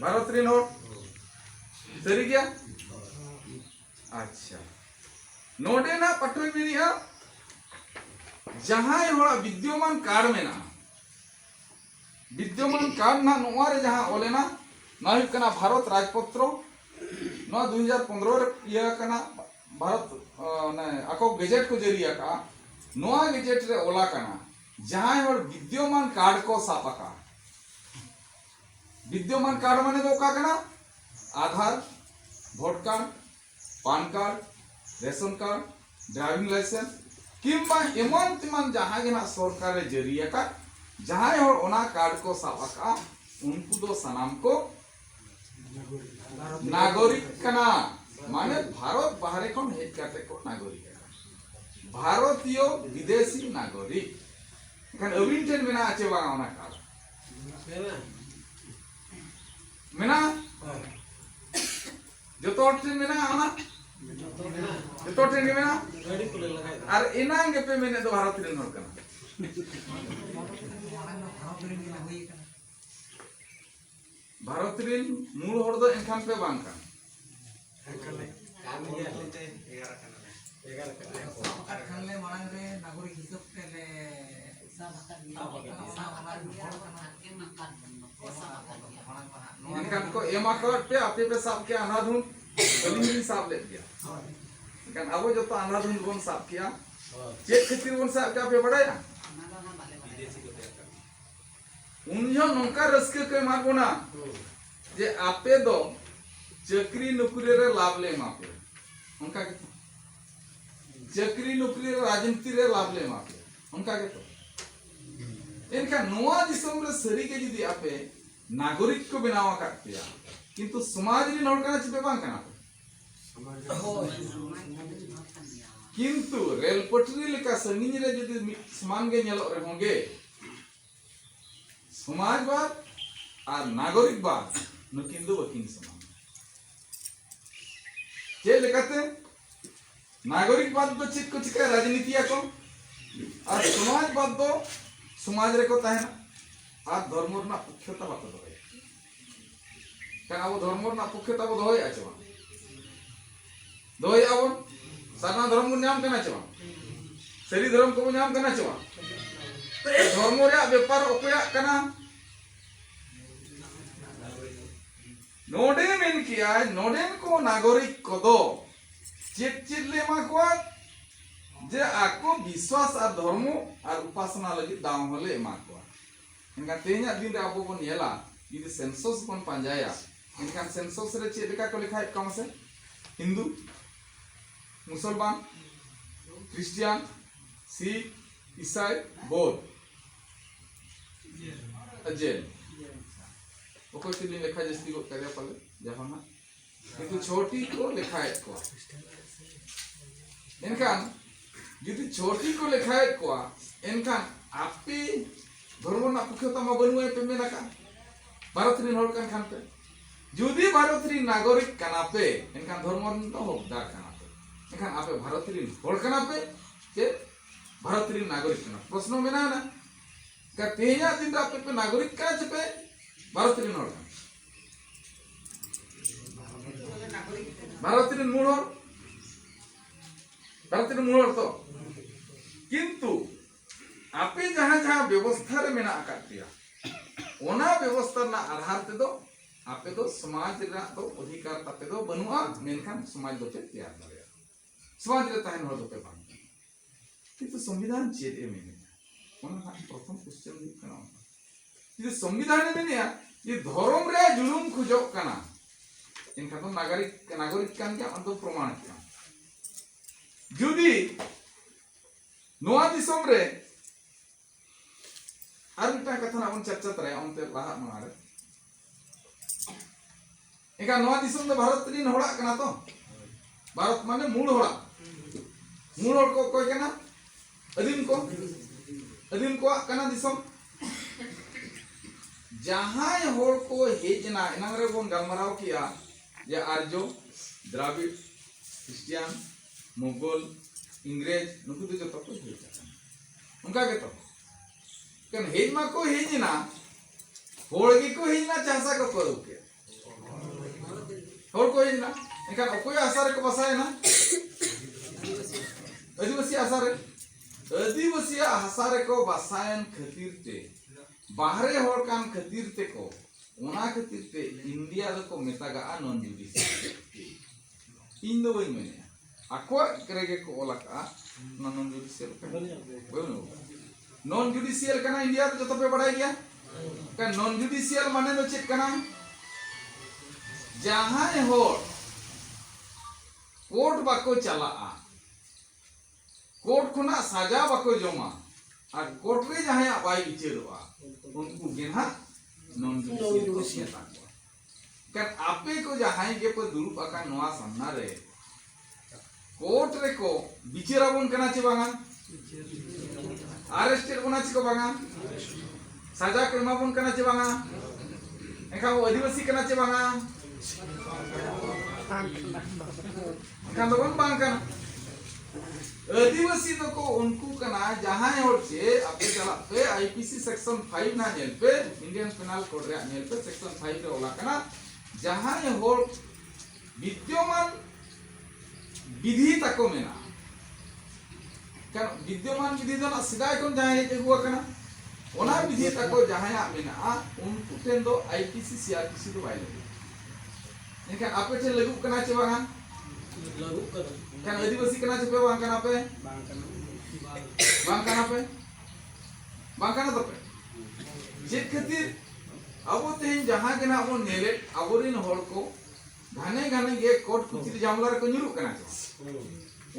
ᱵᱷᱟᱨᱚᱛ ᱨᱮᱱ ᱦᱚᱲ ᱥᱟᱹᱨᱤ ᱜᱮᱭᱟ ᱟᱪᱪᱷᱟ ᱱᱚᱰᱮᱱᱟᱜ ᱯᱟᱴᱷᱚᱭ ᱢᱮᱱᱮᱜᱼᱟ ᱡᱟᱦᱟᱸᱭ ᱦᱚᱲᱟᱜ ᱵᱤᱫᱽᱭᱚᱢᱟᱱ ᱠᱟᱨᱰ ᱢᱮᱱᱟᱜᱼᱟ ᱵᱤᱫᱽᱭᱚᱢᱟᱱ ᱠᱟᱨᱰ ᱱᱟᱜ ᱱᱚᱣᱟ ᱨᱮ ᱡᱟᱦᱟᱸ ᱚᱞᱮᱱᱟ ᱱᱚᱣᱟ ᱦᱩᱭᱩᱜ ᱠᱟᱱᱟ ᱵᱷᱟᱨᱚᱛ ᱨᱟᱡᱽᱯᱚᱛᱨᱚ ᱱᱚᱣᱟ ᱫᱩ ᱦᱟᱡᱟᱨ ᱯᱚᱱᱨᱚ ᱨᱮ ᱤᱭᱟᱹ ᱟᱠᱟᱱᱟ ᱵᱷᱟᱨᱚᱛ ᱚᱱᱮ ᱟᱠᱚ ᱜᱮᱡᱮᱴ ᱠᱚ ᱡᱟᱹᱨᱤ ᱟᱠᱟᱜᱼᱟ ᱱᱚᱣᱟ ᱜᱮᱡᱮᱴ ᱨᱮ ᱚᱞ ᱟᱠᱟᱱᱟ ᱡᱟᱦᱟᱸᱭ ᱦᱚᱲ ᱵᱤᱫᱽᱭᱚᱢᱟᱱ ᱠᱟᱨᱰ ᱠᱚ ᱥᱟᱵ ᱟᱠᱟᱫ ᱵᱤᱫᱽᱭᱚᱢᱟᱱ ᱠᱟᱨᱰ ᱢᱟᱱᱮ ᱫᱚ ᱚᱠᱟ ᱠᱟᱱᱟ Aadhaar vote card PAN card ration card driving licence ᱠᱤᱢᱵᱟ ᱮᱢᱟᱱ ᱛᱮᱢᱟᱱ ᱡᱟᱦᱟᱸ ᱜᱮ ᱱᱟᱜ ᱥᱚᱨᱠᱟᱨᱮ ᱡᱟᱹᱨᱤ ᱟᱠᱟᱫ ᱡᱟᱦᱟᱸᱭ ᱦᱚᱲ ᱚᱱᱟ ᱠᱟᱨᱰ ᱠᱚ ᱥᱟᱵ ᱟᱠᱟᱫ ᱩᱱᱠᱩ ᱫᱚ ᱥᱟᱱᱟᱢ ᱠᱚ ᱱᱟᱜᱚᱨᱤᱠ ᱠᱟᱱᱟ ᱢᱟᱱᱮ ᱵᱷᱟᱨᱚᱛ ᱵᱟᱦᱨᱮ ᱠᱷᱚᱱ ᱦᱮᱡ ᱠᱟᱛᱮ ᱠᱚ ᱱᱟᱜᱚᱨᱤᱠ ᱠᱟᱱᱟ ᱵᱷᱟᱨᱚᱛᱤᱭᱚ ᱵᱤᱫᱮᱥᱤ ᱱᱟᱜᱚᱨᱤᱠ ᱮᱱᱠᱷᱟᱱ ᱟᱹᱵᱤᱱ ᱴᱷᱮᱱ ᱢᱮᱱᱟᱜᱼᱟ ᱪᱮ ᱵᱟᱝ ᱚᱱᱟ ᱠᱟᱨᱰ ᱢᱮᱱᱟᱜᱼᱟ ᱡᱚᱛᱚ ᱦᱚᱲ ᱴᱷᱮᱱ ᱢᱮᱱᱟᱜᱼᱟ ᱚᱱᱟ ᱡᱚᱛᱚ ᱦᱚᱲ ᱴᱷᱮᱱ ᱜᱮ ᱢᱮᱱᱟᱜᱼᱟ ᱟᱨ ᱮᱱᱟᱝ ᱜᱮᱯᱮ ᱢᱮᱱᱮᱫ ᱫᱚ ᱵᱷᱟᱨᱚᱛ ᱨᱮᱱ ᱦᱚᱲ ᱠᱟᱱᱟ ᱵᱷᱟᱨᱚᱛ ᱨᱮᱱ ᱢᱩᱬ ᱦᱚᱲ ᱫᱚ ᱮᱱᱠᱷᱟᱱ ᱯᱮ ᱵᱟᱝ ᱠᱟᱱᱟ ᱮᱱᱠᱷᱟᱱ ᱠᱚ ᱮᱢ ᱟᱠᱟᱫ ᱯᱮ ᱟᱯᱮ ᱯᱮ ᱥᱟᱵ ᱠᱮᱜᱼᱟ ᱟᱱᱟᱫᱷᱩᱱ ᱟᱹᱞᱤᱧ ᱞᱤᱧ ᱥᱟᱵ ᱞᱮᱫ ᱜᱮᱭᱟ ᱮᱱᱠᱷᱟᱱ ᱟᱵᱚ ᱡᱚᱛᱚ ᱟᱱᱟᱫᱷᱩᱱ ᱵᱚᱱ ᱥᱟᱵ ᱠᱮᱜᱼᱟ ᱪᱮᱫ ᱠᱷᱟᱹᱛᱤᱨ ᱵᱚᱱ ᱥᱟᱵ ᱠᱮᱜᱼᱟ ᱯᱮ ᱵᱟᱲᱟᱭᱟ ᱩᱱ ᱡᱚᱦᱚᱜ ᱱᱚᱝᱠᱟ ᱨᱟᱹᱥᱠᱟᱹ ᱠᱚ ᱮᱢᱟᱫ ᱵᱚᱱᱟ ᱡᱮ ᱟᱯᱮ ᱫᱚ ᱪᱟᱹᱠᱨᱤ ᱱᱩᱠᱨᱤ ᱨᱮ ᱞᱟᱵᱷ ᱞᱮ ᱮᱢᱟ ᱯᱮᱭᱟ ᱚᱱᱠᱟ ᱜᱮᱛᱚ ᱪᱟᱹᱠᱨᱤ ᱱᱩᱠᱨᱤ ᱨᱮ ᱨᱟᱡᱽᱱᱤᱛᱤ ᱨᱮ ᱞᱟᱵᱷ ᱞᱮ ᱮᱢᱟ ᱯᱮᱭᱟ ᱚᱱᱠᱟ ᱜᱮᱛᱚ ᱮᱱᱠᱷᱟᱱ ᱱᱚᱣᱟ ᱫᱤᱥᱚᱢ ᱨᱮ ᱥᱟᱹᱨᱤᱜᱮ ᱡᱩᱫᱤ ᱟᱯᱮ ᱱᱟᱜᱚᱨᱤᱠ ᱠᱚ ᱵᱮᱱᱟᱣ ᱟᱠᱟᱫ ᱯᱮᱭᱟ ᱠᱤᱱᱛᱩ ᱥᱚᱢᱟᱡᱽ ᱨᱮᱱ ᱦᱚᱲ ᱠᱟᱱᱟ ᱪᱮᱯᱮ ᱵᱟᱝ ᱠᱟᱱᱟ ᱯᱮ ᱠᱤᱱᱛᱩ ᱨᱮᱞ ᱯᱟᱹᱴᱨᱤ ᱞᱮᱠᱟ ᱥᱟᱺᱜᱤᱧ ᱨᱮ ᱡᱩᱫᱤ ᱢᱤᱫ ᱥᱚᱢᱟᱱ ᱜᱮ ᱧᱮᱞᱚᱜ ᱨᱮᱦᱚᱸ ᱜᱮ ᱥᱚᱢᱟᱡᱽᱵᱟᱫ ᱟᱨ ᱱᱟᱜᱚᱨᱤᱠᱵᱟᱫ ᱱᱩᱠᱤᱱ ᱫᱚ ᱵᱟᱹᱠᱤᱱ ᱥᱚᱢᱟᱱ ᱪᱮᱫ ᱞᱮᱠᱟᱛᱮ ᱱᱟᱜᱚᱨᱤᱠᱵᱟᱫ ᱫᱚ ᱪᱮᱫ ᱠᱚ ᱪᱤᱠᱟᱹ ᱨᱟᱡᱽᱱᱤᱛᱤᱭᱟ ᱠᱚ ᱟᱨ ᱥᱚᱢᱟᱡᱽᱵᱟᱫ ᱫᱚ ᱥᱚᱢᱟᱡᱽ ᱨᱮᱠᱚ ᱛᱟᱦᱮᱱᱟ ᱟᱨ ᱫᱷᱚᱨᱢᱚ ᱨᱮᱱᱟᱜ ᱯᱩᱠᱷᱭᱚᱛᱟ ᱵᱟᱠᱚ ᱫᱚᱦᱚᱭᱟ ᱠᱟᱱᱟ ᱟᱵᱚ ᱫᱷᱚᱨᱢᱚ ᱨᱮᱱᱟᱜ ᱯᱚᱠᱠᱷᱮ ᱛᱟᱵᱚ ᱫᱚᱦᱚᱭᱮᱫᱼᱟ ᱪᱮ ᱵᱟᱝ ᱫᱚᱦᱚᱭᱮᱫᱼᱟ ᱵᱚᱱ ᱥᱟᱨᱱᱟ ᱫᱷᱚᱨᱚᱢ ᱵᱚᱱ ᱧᱟᱢ ᱠᱟᱱᱟ ᱪᱮ ᱵᱟᱝ ᱥᱟᱹᱨᱤ ᱫᱷᱚᱨᱚᱢ ᱠᱚᱵᱚᱱ ᱧᱟᱢ ᱠᱟᱱᱟ ᱪᱮ ᱵᱟᱝ ᱫᱷᱚᱨᱢᱚ ᱨᱮᱭᱟᱜ ᱵᱮᱯᱟᱨ ᱚᱠᱚᱭᱟᱜ ᱠᱟᱱᱟ ᱱᱚᱰᱮ ᱢᱮᱱ ᱠᱮᱭᱟᱭ ᱱᱚᱰᱮᱱ ᱠᱚ ᱱᱟᱜᱚᱨᱤᱠ ᱠᱚᱫᱚ ᱪᱮᱫ ᱪᱮᱫ ᱞᱮ ᱮᱢᱟ ᱠᱚᱣᱟ ᱡᱮ ᱟᱠᱚ ᱵᱤᱥᱣᱟᱥ ᱟᱨ ᱫᱷᱚᱨᱢᱚ ᱟᱨ ᱩᱯᱟᱥᱱᱟ ᱞᱟᱹᱜᱤᱫ ᱫᱟᱣ ᱦᱚᱸᱞᱮ ᱮᱢᱟ ᱠᱚᱣᱟ ᱮᱱᱠᱷᱟᱱ ᱛᱮᱦᱮᱧᱟᱜ ᱫᱤᱱ ᱨᱮ ᱟᱵᱚ ᱵᱚᱱ ᱧᱮᱞᱟ ᱡᱩᱫᱤ ᱥᱮᱱᱥᱚᱥ ᱵᱚᱱ ᱯᱟᱸᱡᱟᱭᱟ ᱮᱱᱠᱷᱟᱱ ᱥᱮᱱᱥᱚᱥ ᱨᱮ ᱪᱮᱫ ᱞᱮᱠᱟ ᱠᱚ ᱞᱮᱠᱷᱟᱭᱮᱫ ᱠᱚᱣᱟ ᱢᱟᱥᱮ ᱦᱤᱱᱫᱩ ᱢᱩᱥᱚᱞᱢᱟᱱ ᱠᱷᱨᱤᱥᱴᱤᱭᱟᱱ ᱥᱤᱠᱷ ᱤᱥᱟᱭ ᱵᱳᱫᱷ ᱡᱮᱱ ᱚᱠᱚᱭ ᱪᱚᱞᱤᱧ ᱞᱮᱠᱷᱟ ᱡᱟᱹᱥᱛᱤ ᱜᱚᱫ ᱠᱟᱫᱮᱭᱟ ᱯᱟᱞᱮ ᱡᱟᱦᱟᱱᱟᱜ ᱱᱩᱠᱩ ᱪᱷᱚᱴᱤ ᱠᱚ ᱞᱮᱠᱷᱟᱭᱮᱫ ᱠᱚᱣᱟ ᱮᱱᱠᱷᱟᱱ ᱡᱩᱫᱤ ᱪᱷᱚᱴᱤ ᱠᱚ ᱞᱮᱠᱷᱟᱭᱮᱫ ᱠᱚᱣᱟ ᱮᱱᱠᱷᱟᱱ ᱟᱯᱮ ᱫᱷᱚᱨᱢᱚ ᱨᱮᱱᱟᱜ ᱯᱩᱠᱷᱟᱹᱛᱟ ᱢᱟ ᱵᱟᱹᱱᱩᱜᱼᱟ ᱯᱮ ᱢᱮᱱ ᱟᱠᱟᱫ ᱵᱷᱟᱨᱚᱛ ᱨᱮᱱ ᱦᱚᱲ ᱠᱟᱱ ᱠᱷᱟᱱ ᱯᱮ ᱡᱩᱫᱤ ᱵᱷᱟᱨᱚᱛ ᱨᱮᱱ ᱱᱟᱜᱚᱨᱤᱠ ᱠᱟᱱᱟ ᱯᱮ ᱮᱱᱠᱷᱟᱱ ᱫᱷᱚᱨᱢᱚ ᱨᱮᱱ ᱫᱚ ᱦᱚᱠᱫᱟᱨ ᱠᱟᱱᱟ ᱯᱮ ᱮᱱᱠᱷᱟᱱ ᱟᱯᱮ ᱵᱷᱟᱨᱚᱛ ᱨᱮᱱ ᱦᱚᱲ ᱠᱟᱱᱟ ᱯᱮ ᱪᱮ ᱵᱷᱟᱨᱚᱛ ᱨᱮᱱ ᱱᱟᱜᱚᱨᱤᱠ ᱠᱟᱱᱟ ᱯᱨᱚᱥᱱᱚ ᱢᱮᱱᱟᱜᱼᱟ ᱛᱮᱦᱮᱧᱟᱜ ᱫᱤᱱ ᱨᱮ ᱟᱯᱮ ᱯᱮ ᱱᱟᱜᱚᱨᱤᱠ ᱠᱟᱱᱟ ᱪᱮ ᱯᱮ ᱵᱷᱟᱨᱚᱛ ᱨᱮᱱ ᱦᱚᱲ ᱠᱟᱱᱟ ᱵᱷᱟᱨᱚᱛ ᱨᱮᱱ ᱢᱩᱬ ᱦᱚᱲ ᱵᱷᱟᱨᱚᱛ ᱨᱮᱱ ᱢᱩᱬ ᱦᱚᱲ ᱛᱚ ᱠᱤᱱᱛᱩ ᱟᱯᱮ ᱡᱟᱦᱟᱸ ᱡᱟᱦᱟᱸ ᱵᱮᱵᱚᱥᱛᱷᱟ ᱨᱮ ᱢᱮᱱᱟᱜ ᱟᱠᱟᱫ ᱯᱮᱭᱟ ᱚᱱᱟ ᱵᱮᱵᱚᱥᱛᱷᱟ ᱨᱮᱱᱟᱜ ᱟᱫᱷᱟᱨ ᱛᱮᱫᱚ ᱟᱯᱮ ᱫᱚ ᱥᱚᱢᱟᱡᱽ ᱨᱮᱱᱟᱜ ᱫᱚ ᱚᱫᱷᱤᱠᱟᱨ ᱛᱟᱯᱮ ᱫᱚ ᱵᱟᱹᱱᱩᱜᱼᱟ ᱢᱮᱱᱠᱷᱟᱱ ᱥᱚᱢᱟᱡᱽ ᱫᱚᱯᱮ ᱛᱮᱭᱟᱨ ᱫᱟᱲᱮᱭᱟᱜᱼᱟ ᱥᱚᱢᱟᱡᱽ ᱨᱮ ᱛᱟᱦᱮᱱ ᱦᱚᱲ ᱫᱚᱯᱮ ᱵᱟᱝ ᱠᱤᱱᱛᱩ ᱥᱚᱝᱵᱤᱫᱷᱟᱱ ᱪᱮᱫ ᱮ ᱢᱮᱱᱮᱫᱼᱟ ᱚᱱᱟ ᱨᱮᱱᱟᱜ ᱯᱨᱚᱛᱷᱚᱢ ᱠᱚᱥᱪᱮᱱ ᱦᱩᱭᱩᱜ ᱠᱟᱱᱟ ᱚᱱᱟ ᱡᱩᱫᱤ ᱥᱚᱝᱵᱤᱫᱷᱟᱱ ᱮ ᱢᱮᱱᱮᱫᱼᱟ ᱡᱮ ᱫᱷᱚᱨᱚᱢ ᱨᱮ ᱡᱩᱞᱩᱢ ᱠᱷᱚᱡᱚᱜ ᱠᱟᱱᱟ ᱮᱱᱠᱷᱟᱱ ᱫᱚ ᱱᱟᱜᱚᱨᱤᱠ ᱱᱟᱜᱚᱨᱤᱠ ᱠᱟᱱ ᱜᱮᱭᱟ ᱚᱱᱟ ᱫᱚ ᱯᱨᱚᱢᱟᱬ ᱠᱮᱫᱼᱟ ᱡᱩᱫᱤ ᱱᱚᱣᱟ ᱫᱤᱥᱚᱢ ᱨᱮ ᱟᱨ ᱢᱤᱫᱴᱟᱝ ᱠᱟᱛᱷᱟ ᱱᱟᱜ ᱵᱚᱱ ᱪᱟᱨᱪᱟ ᱛᱟᱨᱟᱭᱟ ᱚᱱᱛᱮ ᱞᱟᱦᱟᱜ ᱢᱟᱲᱟᱝ ᱨᱮ ᱮᱱᱠᱷᱟᱱ ᱱᱚᱣᱟ ᱫᱤᱥᱚᱢ ᱫᱚ ᱵᱷᱟᱨᱚᱛ ᱨᱤᱱ ᱦᱚᱲᱟᱜ ᱠᱟᱱᱟ ᱛᱚ ᱵᱷᱟᱨᱚᱛ ᱢᱟᱱᱮ ᱢᱩᱲ ᱦᱚᱲᱟᱜ ᱢᱩᱲ ᱦᱚᱲ ᱠᱚ ᱚᱠᱚᱭ ᱠᱟᱱᱟ ᱟᱹᱫᱤᱢ ᱠᱚ ᱟᱹᱫᱤᱢ ᱠᱚᱣᱟᱜ ᱠᱟᱱᱟ ᱫᱤᱥᱚᱢ ᱡᱟᱦᱟᱸᱭ ᱦᱚᱲ ᱠᱚ ᱦᱮᱡ ᱮᱱᱟ ᱮᱱᱟᱝ ᱨᱮ ᱵᱚᱱ ᱜᱟᱞᱢᱟᱨᱟᱣ ᱠᱮᱜᱼᱟ ᱡᱮ ᱟᱨᱡᱚ ᱫᱨᱟᱵᱤᱲ ᱠᱷᱨᱤᱥᱴᱤᱭᱟᱱ ᱢᱩᱜᱚᱞ ᱤᱝᱨᱮᱡᱽ ᱱᱩᱠᱩ ᱫᱚ ᱡᱚᱛᱚ ᱠᱚ ᱦᱮᱡ ᱟᱠᱟᱱᱟ ᱚᱱᱠᱟ ᱜᱮᱛᱚ ᱠᱟᱱ ᱦᱮᱡ ᱢᱟᱠᱚ ᱦᱮᱡ ᱮᱱᱟ ᱦᱚᱲ ᱜᱮᱠᱚ ᱦᱮᱡ ᱮᱱᱟ ᱪᱟᱥᱟ ᱠᱚ ᱯᱟᱹᱨᱩ ᱠᱮᱫ ᱦᱚᱲ ᱠᱚ ᱦᱮᱡ ᱮᱱᱟ ᱮᱱᱠᱷᱟᱱ ᱚᱠᱚᱭ ᱟᱥᱟ ᱨᱮᱠᱚ ᱵᱟᱥᱟᱭᱮᱱᱟ ᱟᱹᱫᱤᱵᱟᱹᱥᱤ ᱟᱥᱟ ᱨᱮ ᱟᱹᱫᱤᱵᱟᱹᱥᱤ ᱟᱥᱟ ᱨᱮᱠᱚ ᱵᱟᱥᱟᱭᱮᱱ ᱠᱷᱟᱹᱛᱤᱨ ᱛᱮ ᱵᱟᱦᱨᱮ ᱦᱚᱲ ᱠᱟᱱ ᱠᱷᱟᱹᱛᱤᱨ ᱛᱮᱠᱚ ᱚᱱᱟ ᱠᱷᱟᱹᱛᱤᱨ ᱛᱮ ᱤᱱᱰᱤᱭᱟ ᱫᱚᱠᱚ ᱢᱮᱛᱟᱜᱟᱜᱼᱟ ᱱᱚᱱ ᱡᱩᱰᱤᱥᱤᱭᱟᱞ ᱤᱧ ᱫᱚ ᱵᱟᱹᱧ ᱢᱮᱱᱮᱫᱼᱟ ᱟᱠᱚᱣᱟᱜ ᱨᱮᱜᱮ ᱠᱚ ᱚᱞ ᱟᱠᱟᱫᱼᱟ ᱚᱱᱟ ᱱᱚᱱ ᱡᱩᱰᱤᱥᱤᱭᱟᱞ ᱠᱟᱱᱟ ᱵᱟᱹᱱᱩᱜ ᱱᱚᱱ ᱡᱩᱰᱤᱥᱤᱭᱟᱞ ᱠᱟᱱᱟ ᱤᱱᱰᱤᱭᱟ ᱨᱮ ᱡᱚᱛᱚ ᱯᱮ ᱵᱟᱲᱟᱭ ᱜᱮᱭᱟ ᱠᱟᱨᱚᱱ ᱱᱚᱱ ᱡᱩᱰᱤᱥᱤᱭᱟᱞ ᱢᱟᱱᱮ ᱫᱚ ᱪᱮᱫ ᱠᱟᱱᱟ ᱡᱟᱦᱟᱸᱭ ᱦᱚᱲ ᱠᱳᱨᱴ ᱵᱟᱠᱚ ᱪᱟᱞᱟᱜᱼᱟ ᱠᱳᱨᱴ ᱠᱷᱚᱱᱟᱜ ᱥᱟᱡᱟ ᱵᱟᱠᱚ ᱡᱚᱢᱟ ᱟᱨ ᱠᱳᱨᱴ ᱨᱮ ᱡᱟᱦᱟᱸᱭᱟᱜ ᱵᱟᱭ ᱵᱤᱪᱟᱹᱨᱚᱜᱼᱟ ᱩᱱᱠᱩ ᱜᱮ ᱱᱟᱦᱟᱜ ᱱᱚᱱ ᱡᱩᱰᱤᱥᱤᱭᱟᱞ ᱠᱚ ᱢᱮᱛᱟ ᱠᱚᱣᱟ ᱠᱟᱱ ᱟᱯᱮ ᱠᱚ ᱡᱟᱦᱟᱸᱭ ᱜᱮ ᱯᱮ ᱫᱩᱲᱩᱵ ᱟᱠᱟᱱ ᱱᱚᱣᱟ ᱥᱟᱢᱱᱟ ᱨᱮ ᱠᱳᱨᱴ ᱨᱮ ᱠᱚ ᱵᱤᱪᱟᱹᱨ ᱟᱵᱚᱱ ᱠᱟᱱᱟ ᱪᱮ ᱵᱟᱝᱟ ᱟᱨᱮᱥᱴᱮᱰ ᱵᱚᱱᱟ ᱪᱮ ᱠᱚ ᱵᱟᱝᱟ ᱥᱟᱡᱟ ᱠᱚ ᱮᱢᱟ ᱵᱚᱱ ᱠᱟᱱᱟ ᱪᱮ ᱵᱟᱝᱟ ᱮᱱᱠᱷᱟᱱ ᱟᱹᱫᱤᱵᱟᱹᱥᱤ ᱠᱟᱱᱟ ᱪᱮ ᱵᱟᱝᱟ ᱵᱟᱠᱷᱟᱱ ᱫᱚ ᱵᱟᱝ ᱵᱟᱝ ᱠᱟᱱᱟ ᱟᱹᱫᱤᱵᱟᱹᱥᱤ ᱫᱚᱠᱚ ᱩᱱᱠᱩ ᱠᱟᱱᱟ ᱡᱟᱦᱟᱸᱭ ᱦᱚᱲ ᱪᱮ ᱟᱯᱮ ᱪᱟᱞᱟᱜ ᱯᱮ ᱟᱭᱯᱤᱥᱤ ᱥᱮᱠᱥᱚᱱ 5 ᱱᱟ ᱧᱮᱞ ᱯᱮ ᱤᱱᱰᱤᱭᱟᱱ ᱯᱮᱱᱟᱞ ᱠᱳᱰ ᱨᱮᱭᱟᱜ ᱧᱮᱞ ᱯᱮ ᱥᱮᱠᱥᱚᱱ 5 ᱨᱮ ᱚᱞᱟ ᱠᱟᱱᱟ ᱡᱟᱦᱟᱸᱭ ᱦᱚᱲ ᱵᱤᱫᱽᱭᱚᱢᱟᱱ ᱵᱤᱫᱷᱤ ᱛᱟᱠᱚ ᱢᱮᱱᱟᱜᱼᱟ ᱠᱟᱨᱚᱱ ᱵᱤᱫᱽᱭᱚᱢᱟᱱ ᱵᱤᱫᱷᱤ ᱫᱚ ᱱᱟᱜ ᱥᱮᱫᱟᱭ ᱠᱷᱚᱱ ᱡᱟᱦᱟᱸᱭ ᱦᱮᱡ ᱟᱹᱜᱩ ᱟᱠᱟᱱᱟ ᱚᱱᱟ ᱵᱤᱫᱷᱤ ᱛᱟᱠᱚ ᱡᱟᱦᱟᱸᱭᱟᱜ ᱢᱮᱱᱟᱜᱼᱟ ᱩᱱᱠᱩ ᱴᱷᱮᱱ ᱫᱚ ᱟᱭᱯᱤᱥᱤ ᱥᱤᱟᱨᱯᱤᱥᱤ ᱫᱚ ᱵᱟᱭ ᱞᱟᱹᱜᱤᱫ ᱮᱱᱠᱷᱟᱱ ᱟᱯᱮ ᱴᱷᱮᱱ ᱞᱟᱹᱜᱩᱜ ᱠᱟᱱᱟ ᱪᱮ ᱵᱟᱝᱟ ᱞᱟᱹᱜᱩᱜ ᱠᱟᱱᱟ ᱮᱱᱠᱷᱟᱱ ᱟᱹᱫᱤᱵᱟᱹᱥᱤ ᱠᱟᱱᱟ ᱪᱮ ᱯᱮ ᱵᱟᱝ ᱠᱟᱱᱟ ᱯᱮ ᱵᱟᱝ ᱠᱟᱱᱟ ᱵᱟᱝ ᱠᱟᱱᱟ ᱯᱮ ᱵᱟᱝ ᱠᱟᱱᱟ ᱛᱟᱯᱮ ᱪᱮᱫ ᱠᱷᱟᱹᱛᱤᱨ ᱟᱵᱚ ᱛᱮᱦᱮᱧ ᱡᱟᱦᱟᱸ ᱜᱮ ᱱᱟᱜ ᱵᱚᱱ ᱧᱮᱞᱮᱫ ᱟᱵᱚᱨᱮᱱ ᱦᱚᱲ ᱠᱚ ᱜᱷᱟᱱᱮ ᱜᱷᱟᱱᱮ ᱜᱮ ᱠᱳᱴ ᱠᱩᱪᱤᱨ ᱡᱟᱢᱞᱟ ᱨᱮᱠᱚ ᱧᱩᱨᱩᱜ ᱠᱟᱱᱟ ᱪᱮ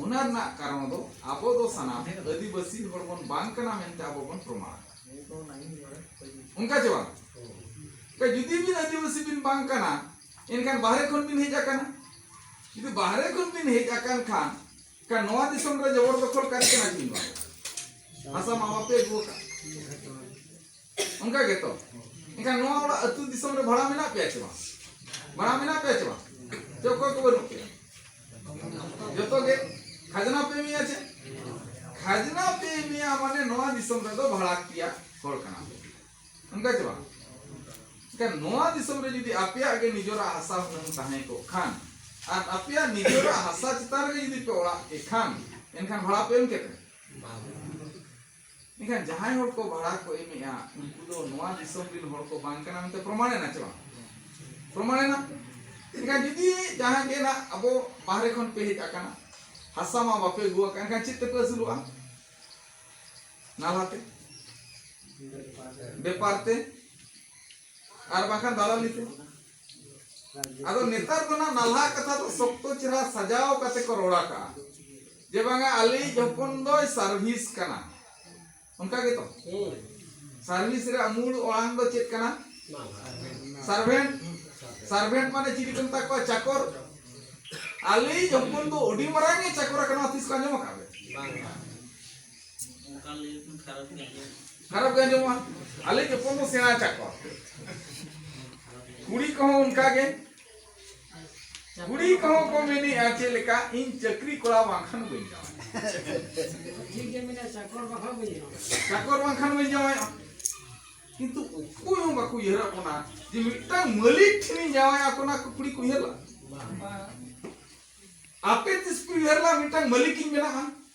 ᱚᱱᱟ ᱨᱮᱱᱟᱜ ᱠᱟᱨᱚᱱ ᱫᱚ ᱟᱵᱚ ᱫᱚ ᱥᱟᱱᱟᱢ ᱟᱹᱫᱤᱵᱟᱹᱥᱤ ᱦᱚᱲ ᱵᱚᱱ ᱵᱟᱝ ᱠᱟᱱᱟ ᱢᱮᱱᱛᱮ ᱟᱵᱚ ᱵᱚᱱ ᱯᱨᱚᱢᱟᱱ ᱚᱱᱠᱟ ᱪᱮ ᱵᱟᱝ ᱡᱩᱫᱤ ᱵᱤᱱ ᱟᱹᱫᱤᱵᱟᱹᱥᱤ ᱵᱤᱱ ᱵᱟᱝ ᱠᱟᱱᱟ ᱮᱱᱠᱷᱟᱱ ᱵᱟᱦᱨᱮ ᱠᱷᱚᱱ ᱵᱤᱱ ᱦᱮᱡ ᱟᱠᱟᱱᱟ ᱡᱩᱫᱤ ᱵᱟᱦᱨᱮ ᱠᱷᱚᱱ ᱵᱤᱱ ᱦᱮᱡ ᱟᱠᱟᱱ ᱠᱷᱟᱱ ᱠᱟ ᱱᱚᱣᱟ ᱫᱤᱥᱚᱢ ᱨᱮ ᱡᱚᱵᱚᱨ ᱫᱚᱠᱷᱚᱞ ᱠᱟᱨᱤ ᱠᱟᱱᱟ ᱵᱤᱱ ᱵᱟᱝ ᱦᱟᱥᱟ ᱢᱟᱢᱟ ᱯᱮ ᱟᱹᱜᱩ ᱟᱠᱟᱫ ᱚᱱᱠᱟ ᱜᱮᱛᱚ ᱮᱱᱠᱷᱟᱱ ᱱᱚᱣᱟ ᱚᱲᱟᱜ ᱟᱹᱛᱩ ᱫᱤᱥᱚᱢ ᱨᱮ ᱵᱷᱟᱲᱟ ᱢᱮᱱᱟᱜ ᱯᱮᱭᱟ ᱪᱮ ᱵᱟᱝ ᱵᱷᱟᱲᱟ ᱢᱮᱱᱟᱜ ᱯᱮᱭᱟ ᱪᱮ ᱵᱟᱝ ᱪᱮ ᱚᱠᱚᱭ ᱠᱚ ᱵᱟᱹᱱᱩᱜ ᱯᱮᱭᱟ ᱡᱚᱛᱚ ᱜᱮ ᱠᱷᱟᱡᱽᱱᱟ ᱯᱮ ᱮᱢᱮᱭᱟ ᱪᱮ ᱠᱷᱟᱡᱽᱱᱟ ᱯᱮ ᱮᱢᱮᱭᱟ ᱢᱟᱱᱮ ᱱᱚᱣᱟ ᱫᱤᱥᱚᱢ ᱨᱮᱫᱚ ᱵᱷᱟᱲᱟ ᱯᱮᱭᱟ ᱦᱚᱲ ᱠᱟᱱᱟ ᱚᱱᱠᱟ ᱪᱮ ᱵᱟᱝ ᱮᱱᱠᱷᱟᱱ ᱱᱚᱣᱟ ᱫᱤᱥᱚᱢ ᱨᱮ ᱡᱩᱫᱤ ᱟᱯᱮᱭᱟᱜ ᱜᱮ ᱱᱤᱡᱚᱨᱟᱜ ᱦᱟᱥᱟ ᱦᱩᱱᱟᱹᱝ ᱛᱟᱦᱮᱸ ᱠᱚᱜ ᱠᱷᱟᱱ ᱟᱨ ᱟᱯᱮᱭᱟᱜ ᱱᱤᱡᱚᱨᱟᱜ ᱦᱟᱥᱟ ᱪᱮᱛᱟᱱ ᱨᱮ ᱡᱩᱫᱤ ᱯᱮ ᱚᱲᱟᱜ ᱠᱮᱫ ᱠᱷᱟᱱ ᱮᱱᱠᱷᱟᱱ ᱵᱷᱟᱲᱟ ᱯᱮ ᱮᱢ ᱠᱮᱫ ᱢᱮᱱᱠᱷᱟᱱ ᱡᱟᱦᱟᱸᱭ ᱦᱚᱲ ᱠᱚ ᱵᱷᱟᱲᱟ ᱠᱚ ᱮᱢᱮᱜᱼᱟ ᱩᱱᱠᱩ ᱫᱚ ᱱᱚᱣᱟ ᱫᱤᱥᱚᱢ ᱨᱮᱱ ᱦᱚᱲ ᱠᱚ ᱵᱟᱝ ᱠᱟᱱᱟ ᱢᱮᱱᱛᱮ ᱯᱨᱚᱢᱟᱬ ᱮᱱᱟ ᱪᱮ ᱵᱟᱝ ᱯᱨᱚᱢᱟᱬ ᱮᱱᱟ ᱢᱮᱱᱠᱷᱟᱱ ᱡᱩᱫᱤ ᱡᱟᱦᱟᱸ ᱜᱮ ᱱᱟᱜ ᱟᱵᱚ ᱵᱟᱦᱨᱮ ᱠᱷᱚᱱ ᱯᱮ ᱦᱮᱡ ᱟᱠᱟᱱᱟ ᱦᱟᱥᱟ ᱢᱟ ᱵᱟᱯᱮ ᱟᱹᱜᱩ ᱟᱠᱟᱱ ᱮᱱᱠᱷᱟᱱ ᱪᱮᱫ ᱛᱮᱯᱮ ᱟᱹᱥᱩᱞᱚᱜᱼᱟ ᱱᱟᱞᱦᱟᱛᱮ ᱵᱮᱯᱟᱨ ᱛᱮ ᱟᱨ ᱵᱟᱝᱠᱷᱟᱱ ᱫᱟᱞᱟᱞᱤ ᱛᱮ ᱟᱫᱚ ᱱᱮᱛᱟᱨ ᱫᱚ ᱱᱟᱜ ᱱᱟᱞᱦᱟ ᱠᱟᱛᱷᱟ ᱫᱚ ᱥᱚᱠᱛᱚ ᱪᱮᱦᱨᱟ ᱥᱟᱡᱟᱣ ᱠᱟᱛᱮ ᱠᱚ ᱨᱚᱲ ᱟᱠᱟᱜᱼᱟ ᱡᱮ ᱵᱟᱝᱟ ᱟᱞᱤᱧ ᱡᱚᱯᱚᱱ ᱫᱚᱭ ᱥᱟᱨᱵᱷᱤᱥ ᱠᱟᱱᱟ ᱚᱱᱠᱟ ᱜᱮᱛᱚ ᱥᱟᱨᱵᱷᱤᱥ ᱨᱮ ᱢᱩᱞ ᱚᱲᱟᱝ ᱫᱚ ᱪᱮᱫ ᱠᱟᱱᱟ ᱥᱟᱨᱵᱷᱮᱱᱴ ᱥᱟᱨᱵᱷᱮᱱᱴ ᱢᱟᱱᱮ ᱪᱤᱞᱤ ᱠᱚ ᱢᱮᱛᱟ ᱠᱚᱣᱟ ᱪᱟᱠᱚᱨ ᱟᱞᱤᱧ ᱡᱚᱯᱚᱱ ᱫᱚ ᱟᱹᱰᱤ ᱢᱟᱨᱟᱝ ᱮ ᱪᱟᱠᱚᱨ ᱟᱠᱟᱱᱟ ᱛᱤᱥ ᱠᱚ ᱟᱸᱡᱚᱢ ᱟᱠᱟᱫ ᱠᱷᱟᱨᱟᱯ ᱜᱮ ᱟᱸᱡᱚᱢᱚᱜᱼᱟ ᱟᱞᱮ ᱡᱚᱯᱚᱱ ᱫᱚ ᱥᱮᱬᱟ ᱟᱠᱟᱫ ᱠᱚᱣᱟ ᱠᱩᱲᱤ ᱠᱚᱦᱚᱸ ᱚᱱᱠᱟ ᱜᱮ ᱠᱩᱲᱤ ᱠᱚᱦᱚᱸ ᱠᱚ ᱢᱮᱱᱮᱜᱼᱟ ᱪᱮᱫ ᱞᱮᱠᱟ ᱤᱧ ᱪᱟᱹᱠᱨᱤ ᱠᱚᱲᱟ ᱵᱟᱝᱠᱷᱟᱱ ᱵᱟᱹᱧ ᱡᱟᱶᱟᱭ ᱪᱟᱠᱚᱨ ᱵᱟᱝᱠᱷᱟᱱ ᱵᱟᱹᱧ ᱡᱟᱶᱟᱭ ᱠᱤᱱᱛᱩ ᱚᱠᱚᱭ ᱦᱚᱸ ᱵᱟᱠᱚ ᱩᱭᱦᱟᱹᱨᱟ ᱚᱱᱟ ᱡᱮ ᱢᱤᱫᱴᱟᱝ ᱢᱟᱹᱞᱤᱠ ᱴᱷᱮᱱᱤᱧ ᱡᱟᱶᱟᱭᱟ ᱚᱱᱟ ᱠᱚ ᱠᱩᱲᱤ ᱠᱚ ᱩᱭᱦᱟᱹᱨᱟ ᱟᱯᱮ ᱛᱤᱥ ᱠᱚ ᱩᱭᱦᱟᱹᱨ ᱞᱟ ᱢᱤᱫᱴᱟᱝ ᱢᱟᱹᱞᱤᱠ ᱤᱧ ᱵᱮᱱᱟᱜᱼᱟ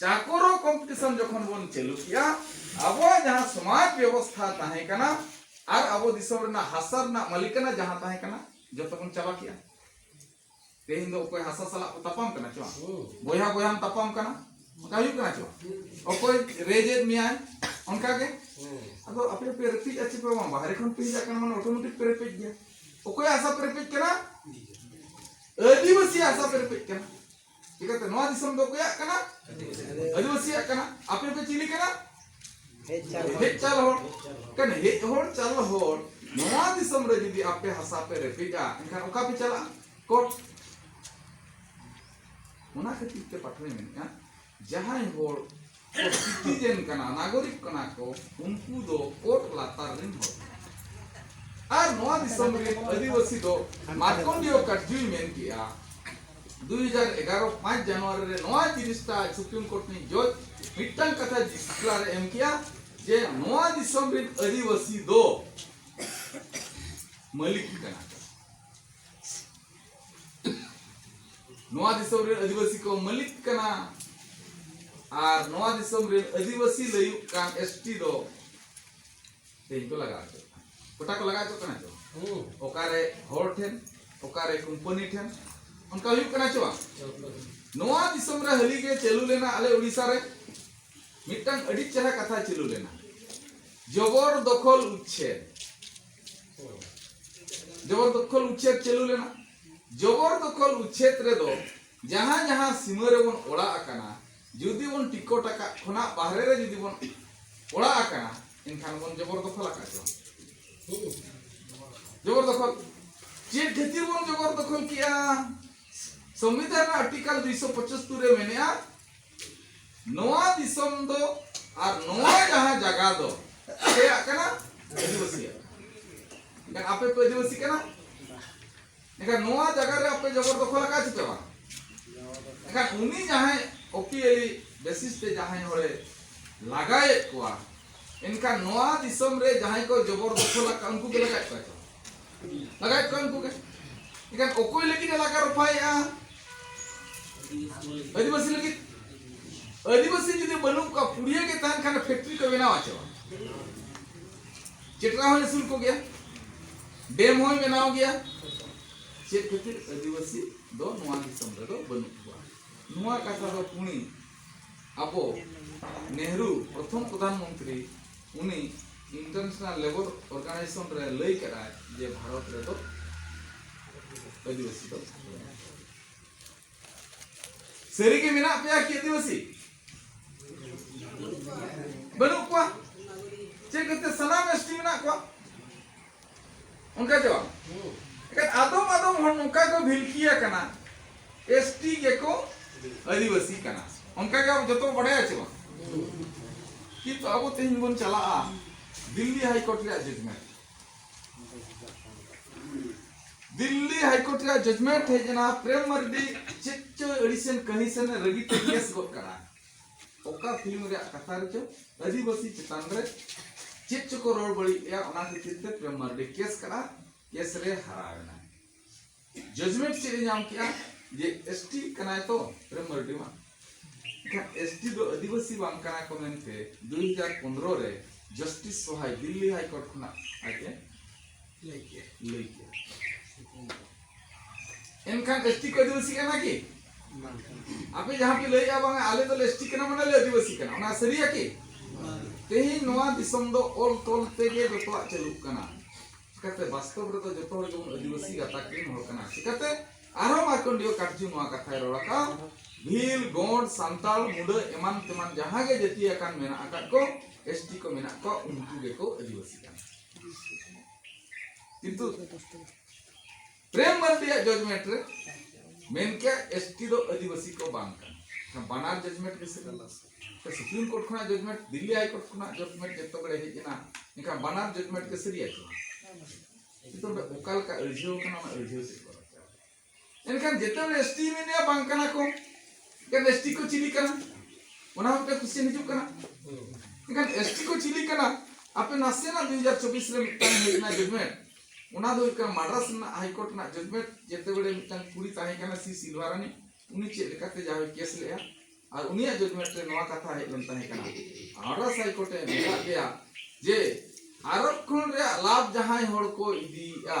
ᱪᱟᱠᱚᱨᱚ ᱠᱚᱢᱯᱤᱴᱤᱥᱚᱱ ᱡᱚᱠᱷᱚᱱ ᱵᱚᱱ ᱪᱟᱹᱞᱩ ᱠᱮᱜᱼᱟ ᱟᱵᱚᱣᱟᱜ ᱡᱟᱦᱟᱸ ᱥᱚᱢᱟᱡᱽ ᱵᱮᱵᱚᱥᱛᱷᱟ ᱛᱟᱦᱮᱸ ᱠᱟᱱᱟ ᱟᱨ ᱟᱵᱚ ᱫᱤᱥᱚᱢ ᱨᱮᱱᱟᱜ ᱦᱟᱥᱟ ᱨᱮᱱᱟᱜ ᱢᱟᱹᱞᱤᱠᱟᱱᱟ ᱡᱟᱦᱟᱸ ᱛᱟᱦᱮᱸ ᱠᱟᱱᱟ ᱡᱚᱛᱚ ᱵᱚᱱ ᱪᱟᱵᱟ ᱠᱮᱜᱼᱟ ᱛᱮᱦᱮᱧ ᱫᱚ ᱚᱠᱚᱭ ᱦᱟᱥᱟ ᱥᱟᱞᱟᱜ ᱠᱚ ᱛᱟᱯᱟᱢ ᱠᱟᱱᱟ ᱪᱚ ᱵᱚᱭᱦᱟ ᱵᱚᱭᱦᱟᱢ ᱛᱟᱯᱟᱢ ᱠᱟᱱᱟ ᱚᱱᱠᱟ ᱦᱩᱭᱩᱜ ᱠᱟᱱᱟ ᱪᱚ ᱚᱠᱚᱭ ᱨᱮᱡᱮᱫ ᱢᱮᱭᱟᱭ ᱚᱱᱠᱟ ᱜᱮ ᱟᱫᱚ ᱟᱯᱮ ᱯᱮ ᱨᱮᱯᱮᱡ ᱟᱪᱷᱮ ᱯᱮ ᱵᱟᱝ ᱵᱟᱦᱨᱮ ᱠᱷᱚᱱ ᱯᱮ ᱦᱤᱡᱟᱜ ᱠᱟᱱᱟ ᱢᱟᱱᱮ ᱚᱴᱳᱢᱮᱴᱤᱠ ᱯᱮ ᱨᱮᱯᱮᱡ ᱜᱮᱭᱟ ᱚᱠᱚᱭ ᱦᱟᱥᱟ ᱯᱮ ᱨᱮᱯᱮᱡ ᱠᱟᱱᱟ ᱟᱹᱫᱤᱵᱟᱹᱥᱤ ᱦᱟᱥᱟ ᱯᱮ ᱨᱮᱯᱮᱡ ᱠᱟᱱᱟ ᱪᱤᱠᱟᱹᱛᱮ ᱱᱚᱣᱟ ᱫᱤᱥᱚᱢ ᱫᱚ ᱚᱠᱚᱭᱟᱜ ᱠᱟᱱᱟ ᱟᱹᱫᱤᱵᱟᱹᱥᱤᱭᱟᱜ ᱠᱟᱱᱟ ᱟᱯᱮ ᱯᱮ ᱪᱤᱞᱤ ᱠᱟᱱᱟ ᱦᱮᱡ ᱪᱟᱞ ᱦᱚᱲ ᱠᱟᱱᱟ ᱦᱮᱡ ᱦᱚᱲ ᱪᱟᱞ ᱦᱚᱲ ᱱᱚᱣᱟ ᱫᱤᱥᱚᱢ ᱨᱮ ᱡᱩᱫᱤ ᱟᱯᱮ ᱦᱟᱥᱟ ᱯᱮ ᱨᱮᱯᱮᱡᱟ ᱮᱱᱠᱷᱟᱱ ᱚᱠᱟ ᱯᱮ ᱪᱟᱞᱟᱜᱼᱟ ᱠᱳᱨᱴ ᱚᱱᱟ ᱠᱷᱟᱹᱛᱤᱨ ᱛᱮ ᱯᱟᱴᱷᱚᱭ ᱢᱮᱱᱮᱫᱼᱟ ᱡᱟᱦᱟᱸᱭ ᱦᱚᱲ ᱥᱤᱴᱤᱡᱮᱱ ᱠᱟᱱᱟ ᱱᱟᱜᱚᱨᱤᱠ ᱠᱟᱱᱟ ᱠᱚ ᱩᱱᱠᱩ ᱫᱚ ᱚᱛ ᱞᱟᱛᱟᱨ ᱨᱮᱱ ᱦᱚᱲ ᱟᱨ ᱱᱚᱣᱟ ᱫᱤᱥᱚᱢ ᱨᱮ ᱟᱹᱫᱤᱵᱟᱹᱥᱤ ᱫᱚ ᱢᱟᱨᱠᱚᱱᱰᱤᱭᱚ ᱠᱟᱴᱡᱩᱭ ᱢᱮᱱ ᱠᱮᱜᱼᱟ 2011 5 ᱡᱟᱱᱩᱣᱟᱨᱤ ᱨᱮ ᱱᱚᱣᱟ ᱡᱤᱱᱤᱥᱴᱟ ᱥᱩᱯᱨᱤᱢ ᱠᱳᱨᱴ ᱨᱤᱱᱤᱡ ᱡᱚᱡᱽ ᱢᱤᱫᱴᱟᱝ ᱠᱟᱛᱷᱟ ᱡᱤᱥᱠᱞᱟᱨ ᱮᱢ ᱠᱮᱜᱼᱟ ᱡᱮ ᱱᱚᱣᱟ ᱫᱤᱥᱚᱢ ᱨᱮᱱ ᱟᱹᱫᱤᱵᱟᱹᱥᱤ ᱫᱚ ᱢᱟᱹᱞᱤᱠ ᱠᱟᱱᱟ ᱱᱚᱣᱟ ᱫᱤᱥᱚᱢ ᱨᱮᱱ ᱟᱹᱫᱤᱵᱟᱹᱥᱤ ᱠᱚ ᱢᱟᱹᱞᱤᱠ ᱠᱟᱱᱟ ᱟᱨ ᱱᱚᱣᱟ ᱫᱤᱥᱚᱢ ᱨᱮᱱ ᱟᱹᱫᱤᱵᱟᱹᱥᱤ ᱞᱟᱹᱭᱩᱜ ᱠᱟᱱ ᱮᱥᱴᱤ ᱫᱚ ᱛᱮᱦᱮᱧ ᱠᱚ ᱞᱟᱜᱟᱣ ᱦᱚᱪᱚᱜ ᱠᱟᱱᱟ ᱜᱚᱴᱟ ᱠᱚ ᱞᱟᱜᱟᱣ ᱦᱚᱪᱚᱜ ᱠᱟᱱᱟ ᱪᱚ ᱚᱠᱟᱨᱮ ᱦᱚᱲ ᱴᱷᱮᱱ ᱚᱠᱟᱨᱮ ᱠᱳᱢᱯᱟᱱᱤ ᱴᱷᱮᱱ ᱚᱱᱠᱟ ᱦᱩᱭᱩᱜ ᱠᱟᱱᱟ ᱪᱚ ᱵᱟᱝ ᱱᱚᱣᱟ ᱫᱤᱥᱚᱢ ᱨᱮ ᱦᱟᱹᱞᱤ ᱜᱮ ᱪᱟᱹᱞᱩ ᱞᱮᱱᱟ ᱟᱞᱮ ᱩᱲᱤᱥᱥᱟ ᱨᱮ ᱢᱤᱫᱴᱟᱝ ᱟᱹᱰᱤ ᱪᱮᱦᱨᱟ ᱠᱟᱛᱷᱟ ᱪᱟᱹᱞᱩ ᱞᱮᱱᱟ ᱡᱚᱵᱚᱨ ᱫᱚᱠᱷᱚᱞ ᱩᱪᱪᱷᱮᱫ ᱡᱚᱵᱚᱨ ᱫᱚᱠᱷᱚᱞ ᱩᱪᱷᱮᱫ ᱪᱟᱹᱞᱩ ᱞᱮᱱᱟ ᱡᱚᱵᱚᱨ ᱫᱚᱠᱷᱚᱞ ᱩᱪᱷᱮᱫ ᱨᱮᱫᱚ ᱡᱟᱦᱟᱸ ᱡᱟᱦᱟᱸ ᱥᱤᱢᱟᱹ ᱨᱮᱵᱚᱱ ᱚᱲᱟᱜ ᱟᱠᱟᱱᱟ ᱡᱩᱫᱤ ᱵᱚᱱ ᱴᱤᱠᱚᱴ ᱟᱠᱟᱫ ᱠᱷᱚᱱᱟᱜ ᱵᱟᱦᱨᱮ ᱨᱮ ᱡᱩᱫᱤ ᱵᱚᱱ ᱚᱲᱟᱜ ᱟᱠᱟᱱᱟ ᱮᱱᱠᱷᱟᱱ ᱵᱚᱱ ᱡᱚᱵᱚᱨ ᱫᱚᱠᱷᱚᱞ ᱟᱠᱟᱫ ᱪᱚᱝ ᱡᱚᱵᱚᱨ ᱫᱚᱠᱷᱚᱞ ᱪᱮᱫ ᱠᱷᱟᱹᱛᱤᱨ ᱵᱚᱱ ᱡᱚᱵᱚᱨ ᱫᱚᱠᱷᱚᱞ ᱠᱮᱜᱼᱟ ᱥᱚᱝᱵᱤᱫᱷᱟᱱ ᱨᱮᱱᱟᱜ ᱟᱨᱴᱤᱠᱟᱞ ᱫᱩᱭᱥᱚ ᱯᱚᱸᱪᱟᱛᱛᱳᱨ ᱨᱮ ᱢᱮᱱᱮᱜᱼᱟ ᱱᱚᱣᱟ ᱫᱤᱥᱚᱢ ᱫᱚ ᱟᱨ ᱱᱚᱣᱟ ᱡᱟᱦᱟᱸ ᱡᱟᱭᱜᱟ ᱫᱚ ᱪᱮᱫᱟᱜ ᱠᱟᱱᱟ ᱟᱹᱫᱤᱵᱟᱹᱥᱤᱭᱟᱜ ᱮᱱᱠᱷᱟᱱ ᱟᱯᱮ ᱯᱮ ᱟᱹᱫᱤᱵᱟᱹᱥᱤ ᱠᱟᱱᱟ ᱮᱱᱠᱷᱟᱱ ᱱᱚᱣᱟ ᱡᱟᱭᱜᱟ ᱨᱮ ᱟᱯᱮ ᱡᱚᱵᱚᱨ ᱫᱚᱠᱷᱚᱞ ᱟᱠᱟᱫ ᱪᱮ ᱵᱟᱝ ᱮᱱᱠᱷᱟᱱ ᱩᱱᱤ ᱡᱟᱦᱟᱸᱭ ᱚᱯᱤᱭᱟᱹᱞᱤ ᱵᱮᱥᱤᱥ ᱛᱮ ᱡᱟᱦᱟᱸᱭ ᱦᱚᱲᱮ ᱞᱟᱜᱟᱭᱮᱫ ᱠᱚᱣᱟ ᱮᱱᱠᱷᱟᱱ ᱱᱚᱣᱟ ᱫᱤᱥᱚᱢ ᱨᱮ ᱡᱟᱦᱟᱸᱭ ᱠᱚ ᱡᱚᱵᱚᱨ ᱫᱚᱠᱷᱚᱞ ᱟᱠᱟᱫ ᱩᱱᱠᱩ ᱜᱮ ᱞᱟᱜᱟᱭᱮᱫ ᱠᱚᱣᱟ ᱞᱟᱜᱟᱭᱮᱫ ᱠᱚᱣᱟ ᱩᱱᱠᱩ ᱜᱮ ᱮᱠᱷᱟᱱ ᱚᱠᱚᱭ ᱞᱟᱹᱜᱤᱫ ᱮ ᱞᱟᱜᱟ ᱨᱚᱯᱷᱟᱭᱮᱫᱼᱟ ᱟᱹᱫᱤᱵᱟᱹᱥᱤ ᱞᱟᱹᱜᱤᱫ ᱟᱹᱫᱤᱵᱟᱹᱥᱤ ᱡᱩᱫᱤ ᱵᱟᱹᱱᱩᱜ ᱠᱚᱣᱟ ᱯᱩᱲᱤᱭᱟᱹ ᱜᱮ ᱛᱟᱦᱮᱱ ᱠᱷᱟᱱ ᱯᱷᱮᱠᱴᱨᱤ ᱠᱚ ᱵᱮᱱᱟᱣ ᱟᱪᱚᱣᱟ ᱪᱮᱴᱨᱟ ᱦᱚᱸ ᱟᱹᱥᱩᱞ ᱠᱚ ᱜᱮᱭᱟ ᱰᱮᱢ ᱦᱚᱸᱭ ᱵᱮᱱᱟᱣ ᱜᱮᱭᱟ ᱪᱮᱫ ᱠᱷᱟᱹᱛᱤᱨ ᱟᱹᱫᱤᱵᱟᱹᱥᱤ ᱫᱚ ᱱᱚᱣᱟ ᱫᱤᱥᱚᱢ ᱨᱮᱫᱚ ᱵᱟᱹᱱᱩᱜ ᱠᱚᱣᱟ ᱱᱚᱣᱟ ᱠᱟᱛᱷᱟ ᱫᱚ ᱯᱩᱬᱤ ᱟᱵᱚ ᱱᱮᱦᱨᱩ ᱯᱨᱚᱛᱷᱚᱢ ᱯᱨᱚᱫᱷᱟᱱ ᱢᱚᱱᱛᱨᱤ ᱩᱱᱤ ᱤᱱᱴᱟᱨᱱᱮᱥᱱᱟᱞ ᱞᱮᱵᱚᱨ ᱚᱨᱜᱟᱱᱟᱭᱡᱮᱥᱚᱱ ᱨᱮ ᱞᱟᱹᱭ ᱠᱮᱫᱟᱭ ᱡᱮ ᱵᱷᱟᱨᱚᱛ ᱨᱮᱫᱚ ᱟᱹᱫᱤᱵᱟᱹᱥᱤ ᱫᱚ ᱥᱟᱹᱨᱤ ᱜᱮ ᱢᱮᱱᱟᱜ ᱯᱮᱭᱟ ᱠᱤ ᱟᱹᱫᱤᱵᱟᱹᱥᱤ ᱵᱟᱹᱱᱩᱜ ᱠᱚᱣᱟ ᱪᱮᱫ ᱠᱟᱛᱮ ᱥᱟᱱᱟᱢ ᱮᱥᱴᱤ ᱢᱮᱱᱟᱜ ᱠᱚᱣᱟ ᱚᱱᱠᱟ ᱪᱮ ᱵᱟᱝ ᱮᱠᱷᱟᱱ ᱟᱫᱚᱢ ᱟᱫᱚᱢ ᱦᱚᱲ ᱱᱚᱝᱠᱟ ᱠᱚ ᱵᱷᱤᱞᱠᱤᱭᱟ ᱠᱟᱱᱟ ᱮᱥ ᱴᱤ ᱜᱮᱠᱚ ᱟᱹᱫᱤᱵᱟᱹᱥᱤ ᱠᱟᱱᱟ ᱚᱱᱠᱟ ᱜᱮ ᱟᱵᱚ ᱡᱚᱛᱚ ᱵᱟᱰᱟᱭᱟ ᱪᱮ ᱵᱟᱝ ᱠᱤᱱᱛᱩ ᱟᱵᱚ ᱛᱮᱦᱮᱧ ᱵᱚᱱ ᱪᱟᱞᱟᱜᱼᱟ ᱫᱤᱞᱞᱤ ᱦᱟᱭᱠᱳᱨᱴ ᱨᱮᱭᱟᱜ ᱡᱟᱡᱽᱢᱮᱱᱴ ᱫᱤᱞᱞᱤ ᱦᱟᱭᱠᱳᱨᱴ ᱨᱮᱭᱟᱜ ᱡᱟᱡᱽᱢᱮᱱᱴ ᱦᱮᱡ ᱮᱱᱟ ᱯᱨᱮᱢ ᱢᱟᱨᱰᱤ ᱪᱮᱫ ᱪᱚ ᱟᱹᱲᱤᱥᱮᱱ ᱠᱟᱹᱦᱤᱥᱮᱱ ᱨᱟᱹᱜᱤᱛᱮ ᱠᱮᱥ ᱜᱚᱫ ᱠᱟᱱᱟ ᱚᱠᱟ ᱯᱷᱤᱞᱢ ᱨᱮᱭᱟᱜ ᱠᱟᱛᱷᱟ ᱨᱮᱪᱚ ᱟᱹᱫᱤᱵᱟᱹᱥᱤ ᱪᱮᱛᱟᱱ ᱨᱮ ᱪᱮᱫ ᱪᱚᱠᱚ ᱨᱚᱲ ᱵᱟᱹᱲᱤᱡ ᱞᱮᱭᱟ ᱚᱱᱟ ᱠᱷᱟᱹᱛᱤᱨ ᱛᱮ ᱯᱨᱮᱢ ᱢᱟᱨᱰᱤ ᱠᱮᱥ ᱠᱟᱜᱼᱟ ᱠᱮᱥ ᱨᱮ ᱦᱟᱨᱟᱣ ᱮᱱᱟ ᱡᱟᱡᱽᱢᱮᱱᱴ ᱪᱮᱫ ᱮ ᱧᱟᱢ ᱠᱮᱜᱼᱟ ᱡᱮ ᱮᱥ ᱴᱤ ᱠᱟᱱᱟᱭ ᱛᱚ ᱯᱨᱮᱢ ᱢᱟᱨᱰᱤ ᱢᱟ ᱮᱱᱠᱷᱟᱱ ᱮᱥ ᱴᱤ ᱫᱚ ᱟᱹᱫᱤᱵᱟᱹᱥᱤ ᱵᱟᱝ ᱠᱟᱱᱟ ᱠᱚ ᱢᱮᱱᱛᱮ ᱫᱩ ᱦᱟᱡᱟᱨ ᱯᱚᱱᱨᱚ ᱨᱮ ᱡᱟᱥᱴᱤᱥ ᱥᱚᱦᱟᱭ ᱫᱤᱞᱞᱤ ᱦᱟᱭᱠᱳᱨᱴ ᱠᱷᱚᱱᱟᱜ ᱟᱡ ᱮ ᱮᱱᱠᱷᱟᱱ ᱮᱥᱴᱤ ᱠᱚ ᱟᱹᱫᱤᱵᱟᱹᱥᱤ ᱠᱟᱱᱟ ᱠᱤ ᱟᱯᱮ ᱡᱟᱦᱟᱸ ᱯᱮ ᱞᱟᱹᱭᱮᱜᱼᱟ ᱵᱟᱝ ᱟᱞᱮ ᱫᱚ ᱮᱥᱴᱤ ᱠᱟᱱᱟ ᱢᱟᱱᱮ ᱞᱮ ᱟᱹᱫᱤᱵᱟᱹᱥᱤ ᱠᱟᱱᱟ ᱚᱱᱟ ᱥᱟᱹᱨᱤᱭᱟ ᱠᱤ ᱛᱮᱦᱮᱧ ᱱᱚᱣᱟ ᱫᱤᱥᱚᱢ ᱫᱚ ᱚᱞ ᱛᱚᱞ ᱛᱮᱜᱮ ᱡᱚᱛᱚᱣᱟᱜ ᱪᱟᱹᱞᱩᱜ ᱠᱟᱱᱟ ᱪᱤᱠᱟᱛᱮ ᱵᱟᱥᱛᱚᱵ ᱨᱮᱫᱚ ᱡᱚᱛᱚ ᱦᱚᱲ ᱜᱮᱵᱚᱱ ᱟᱹᱫᱤᱵᱟᱹᱥᱤ ᱜᱟᱛᱟᱠ ᱨᱮᱱ ᱦᱚᱲ ᱠᱟᱱᱟ ᱪᱤᱠᱟᱛᱮ ᱟᱨᱦᱚᱸ ᱢᱟᱨᱠᱚᱱᱰᱤᱭᱚ ᱠᱟᱴᱡᱩ ᱱᱚᱣᱟ ᱠᱟᱛᱷᱟᱭ ᱨᱚᱲ ᱟᱠᱟᱫ ᱵᱷᱤᱞ ᱜᱚᱸᱰ ᱥᱟᱱᱛᱟᱲ ᱢᱩᱰᱟᱹ ᱮᱢᱟᱱ ᱛᱮᱢᱟᱱ ᱡᱟᱦᱟᱸ ᱜᱮ ᱡᱟᱹᱛᱤ ᱟᱠᱟᱱ ᱢᱮᱱᱟᱜ ᱟᱠᱟᱫ ᱠᱚ ᱮᱥᱴᱤ ᱠᱚ ᱢᱮᱱᱟᱜ ᱠᱚᱣᱟ ᱩᱱᱠᱩ ᱜᱮᱠᱚ ᱟᱹᱫᱤᱵᱟᱹᱥᱤ ᱠᱟᱱᱟ ᱠᱤᱱᱛᱩ ᱯᱨᱮᱢ ᱢᱟᱨᱰᱤᱭᱟᱜ ᱡᱚᱡᱽᱢᱮᱱᱴ ᱨᱮ ᱢᱮᱱ ᱠᱮᱭᱟ ᱮᱥᱴᱤ ᱫᱚ ᱟᱹᱫᱤᱵᱟᱹᱥᱤ ᱠᱚ ᱵᱟᱝ ᱠᱟᱱᱟ ᱵᱟᱱᱟᱨ ᱡᱚᱡᱽᱢᱮᱱᱴ ᱜᱮ ᱥᱤᱵᱤᱞ ᱥᱩᱯᱨᱤᱢ ᱠᱳᱨᱴ ᱠᱷᱚᱱᱟᱜ ᱡᱚᱡᱽᱢᱮᱱᱴ ᱫᱤᱞᱞᱤ ᱦᱟᱭ ᱠᱳᱨᱴ ᱠᱷᱚᱱᱟᱜ ᱡᱚᱡᱽᱢᱮᱱᱴ ᱡᱚᱛᱚ ᱵᱮᱲᱮ ᱦᱮᱡ ᱮᱱᱟ ᱮᱱᱠᱷᱟᱱ ᱵᱟᱱᱟᱨ ᱡᱚᱡᱽᱢᱮᱱᱴ ᱜᱮ ᱥᱟᱹᱨᱤᱭᱟ ᱠᱟᱱᱟ ᱠᱤᱱᱛᱩ ᱚᱠᱟ ᱞᱮᱠᱟ ᱟᱹᱲᱡᱷᱟᱹᱣ ᱠᱟᱱᱟ ᱚᱱᱟ ᱟᱹᱲᱡᱷᱟᱹᱣ ᱥᱮᱫ ᱮᱱᱠᱷᱟᱱ ᱡᱮᱛᱮ ᱦᱚᱲ ᱮᱥ ᱴᱤ ᱢᱮᱱᱮᱭᱟ ᱵᱟᱝ ᱠᱟᱱᱟ ᱠᱚ ᱮᱱᱠᱷᱟᱱ ᱮᱥ ᱴᱤ ᱠᱚ ᱪᱤᱞᱤ ᱠᱟᱱᱟ ᱚᱱᱟ ᱦᱚᱸ ᱢᱤᱫᱴᱟᱝ ᱠᱩᱥᱪᱮᱱ ᱦᱤᱡᱩᱜ ᱠᱟᱱᱟ ᱮᱱᱠᱷᱟᱱ ᱮᱥ ᱴᱤ ᱠᱚ ᱪᱤᱞᱤ ᱠᱟᱱᱟ ᱟᱯᱮ ᱱᱟᱥᱮᱱᱟᱜ ᱫᱩ ᱦᱟᱡᱟᱨ ᱪᱚᱵᱵᱤᱥ ᱨᱮ ᱢᱤᱫᱴᱟᱝ ᱦᱮᱡ ᱮᱱᱟ ᱡᱚᱡᱽᱢᱮᱱᱴ ᱚᱱᱟ ᱫᱚ ᱦᱩᱭᱩᱜ ᱠᱟᱱᱟ ᱢᱟᱰᱨᱟᱥ ᱨᱮᱱᱟᱜ ᱦᱟᱭᱠᱳᱨᱴ ᱨᱮᱱᱟᱜ ᱡᱚᱡᱽᱢᱮᱱᱴ ᱡᱮᱛᱮ ᱵᱮᱲᱮ ᱢᱤᱫᱴᱟᱝ ᱠᱩᱲᱤ ᱛᱟᱦᱮᱸ ᱠᱟᱱᱟ ᱥᱤ ᱥᱤᱞᱣᱟᱨᱟᱱᱤ ᱩᱱᱤ ᱪᱮᱫ ᱞᱮᱠᱟᱛᱮ ᱡᱟᱦᱟᱸᱭ ᱠᱮᱥ ᱞᱮᱜᱼᱟ ᱟᱨ ᱩᱱᱤᱭᱟᱜ ᱡᱚᱡᱽᱢᱮᱱᱴ ᱨᱮ ᱱᱚᱣᱟ ᱠᱟᱛᱷᱟ ᱦᱮᱡ ᱞᱮᱱ ᱛᱟᱦᱮᱸ ᱠᱟᱱᱟ ᱢᱟᱰᱨᱟᱥ ᱦᱟᱭᱠᱳᱨᱴ ᱮ ᱢᱮᱛᱟᱫ ᱞᱮᱭᱟ ᱡᱮ ᱟᱨᱚᱵ ᱠᱷᱚᱱ ᱨᱮᱭᱟᱜ ᱞᱟᱵᱷ ᱡᱟᱦᱟᱸᱭ ᱦᱚᱲ ᱠᱚ ᱤᱫᱤᱭᱮᱜᱼᱟ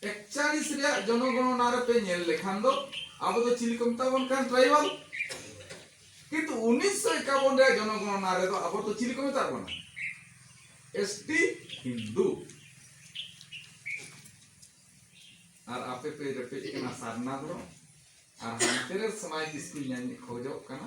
ᱮᱠᱪᱟᱞᱤᱥ ᱨᱮᱭᱟᱜ ᱡᱚᱱᱚᱜᱚᱬᱚᱱᱟ ᱨᱮ ᱯᱮ ᱧᱮᱞ ᱞᱮᱠᱷᱟᱱ ᱫᱚ ᱟᱵᱚ ᱫᱚ ᱪᱤᱞᱤ ᱠᱚ ᱢᱮᱛᱟ ᱵᱚᱱ ᱠᱟᱱ ᱴᱨᱟᱭᱵᱟᱞ ᱠᱤᱱᱛᱩ 1951 ᱨᱮᱭᱟᱜ ᱡᱚᱱᱚᱜᱚᱬᱚᱱᱟ ᱨᱮ ᱫᱚ ᱟᱵᱚ ᱫᱚ ᱪᱤᱞᱤ ᱠᱚ ᱢᱮᱛᱟ ᱵᱚᱱᱟ ᱮᱥᱴᱤ ᱦᱤᱱᱫᱩ ᱟᱨ ᱟᱯᱮ ᱯᱮ ᱨᱮᱯᱮᱡ ᱠᱟᱱᱟ ᱥᱟᱨᱱᱟ ᱫᱚ ᱟᱨ ᱦᱟᱱᱛᱮ ᱨᱮ ᱥᱚᱢᱟᱡᱽ ᱤᱥᱠᱩᱞ ᱧᱟᱢ ᱠᱷᱚᱡᱚᱜ ᱠᱟᱱᱟ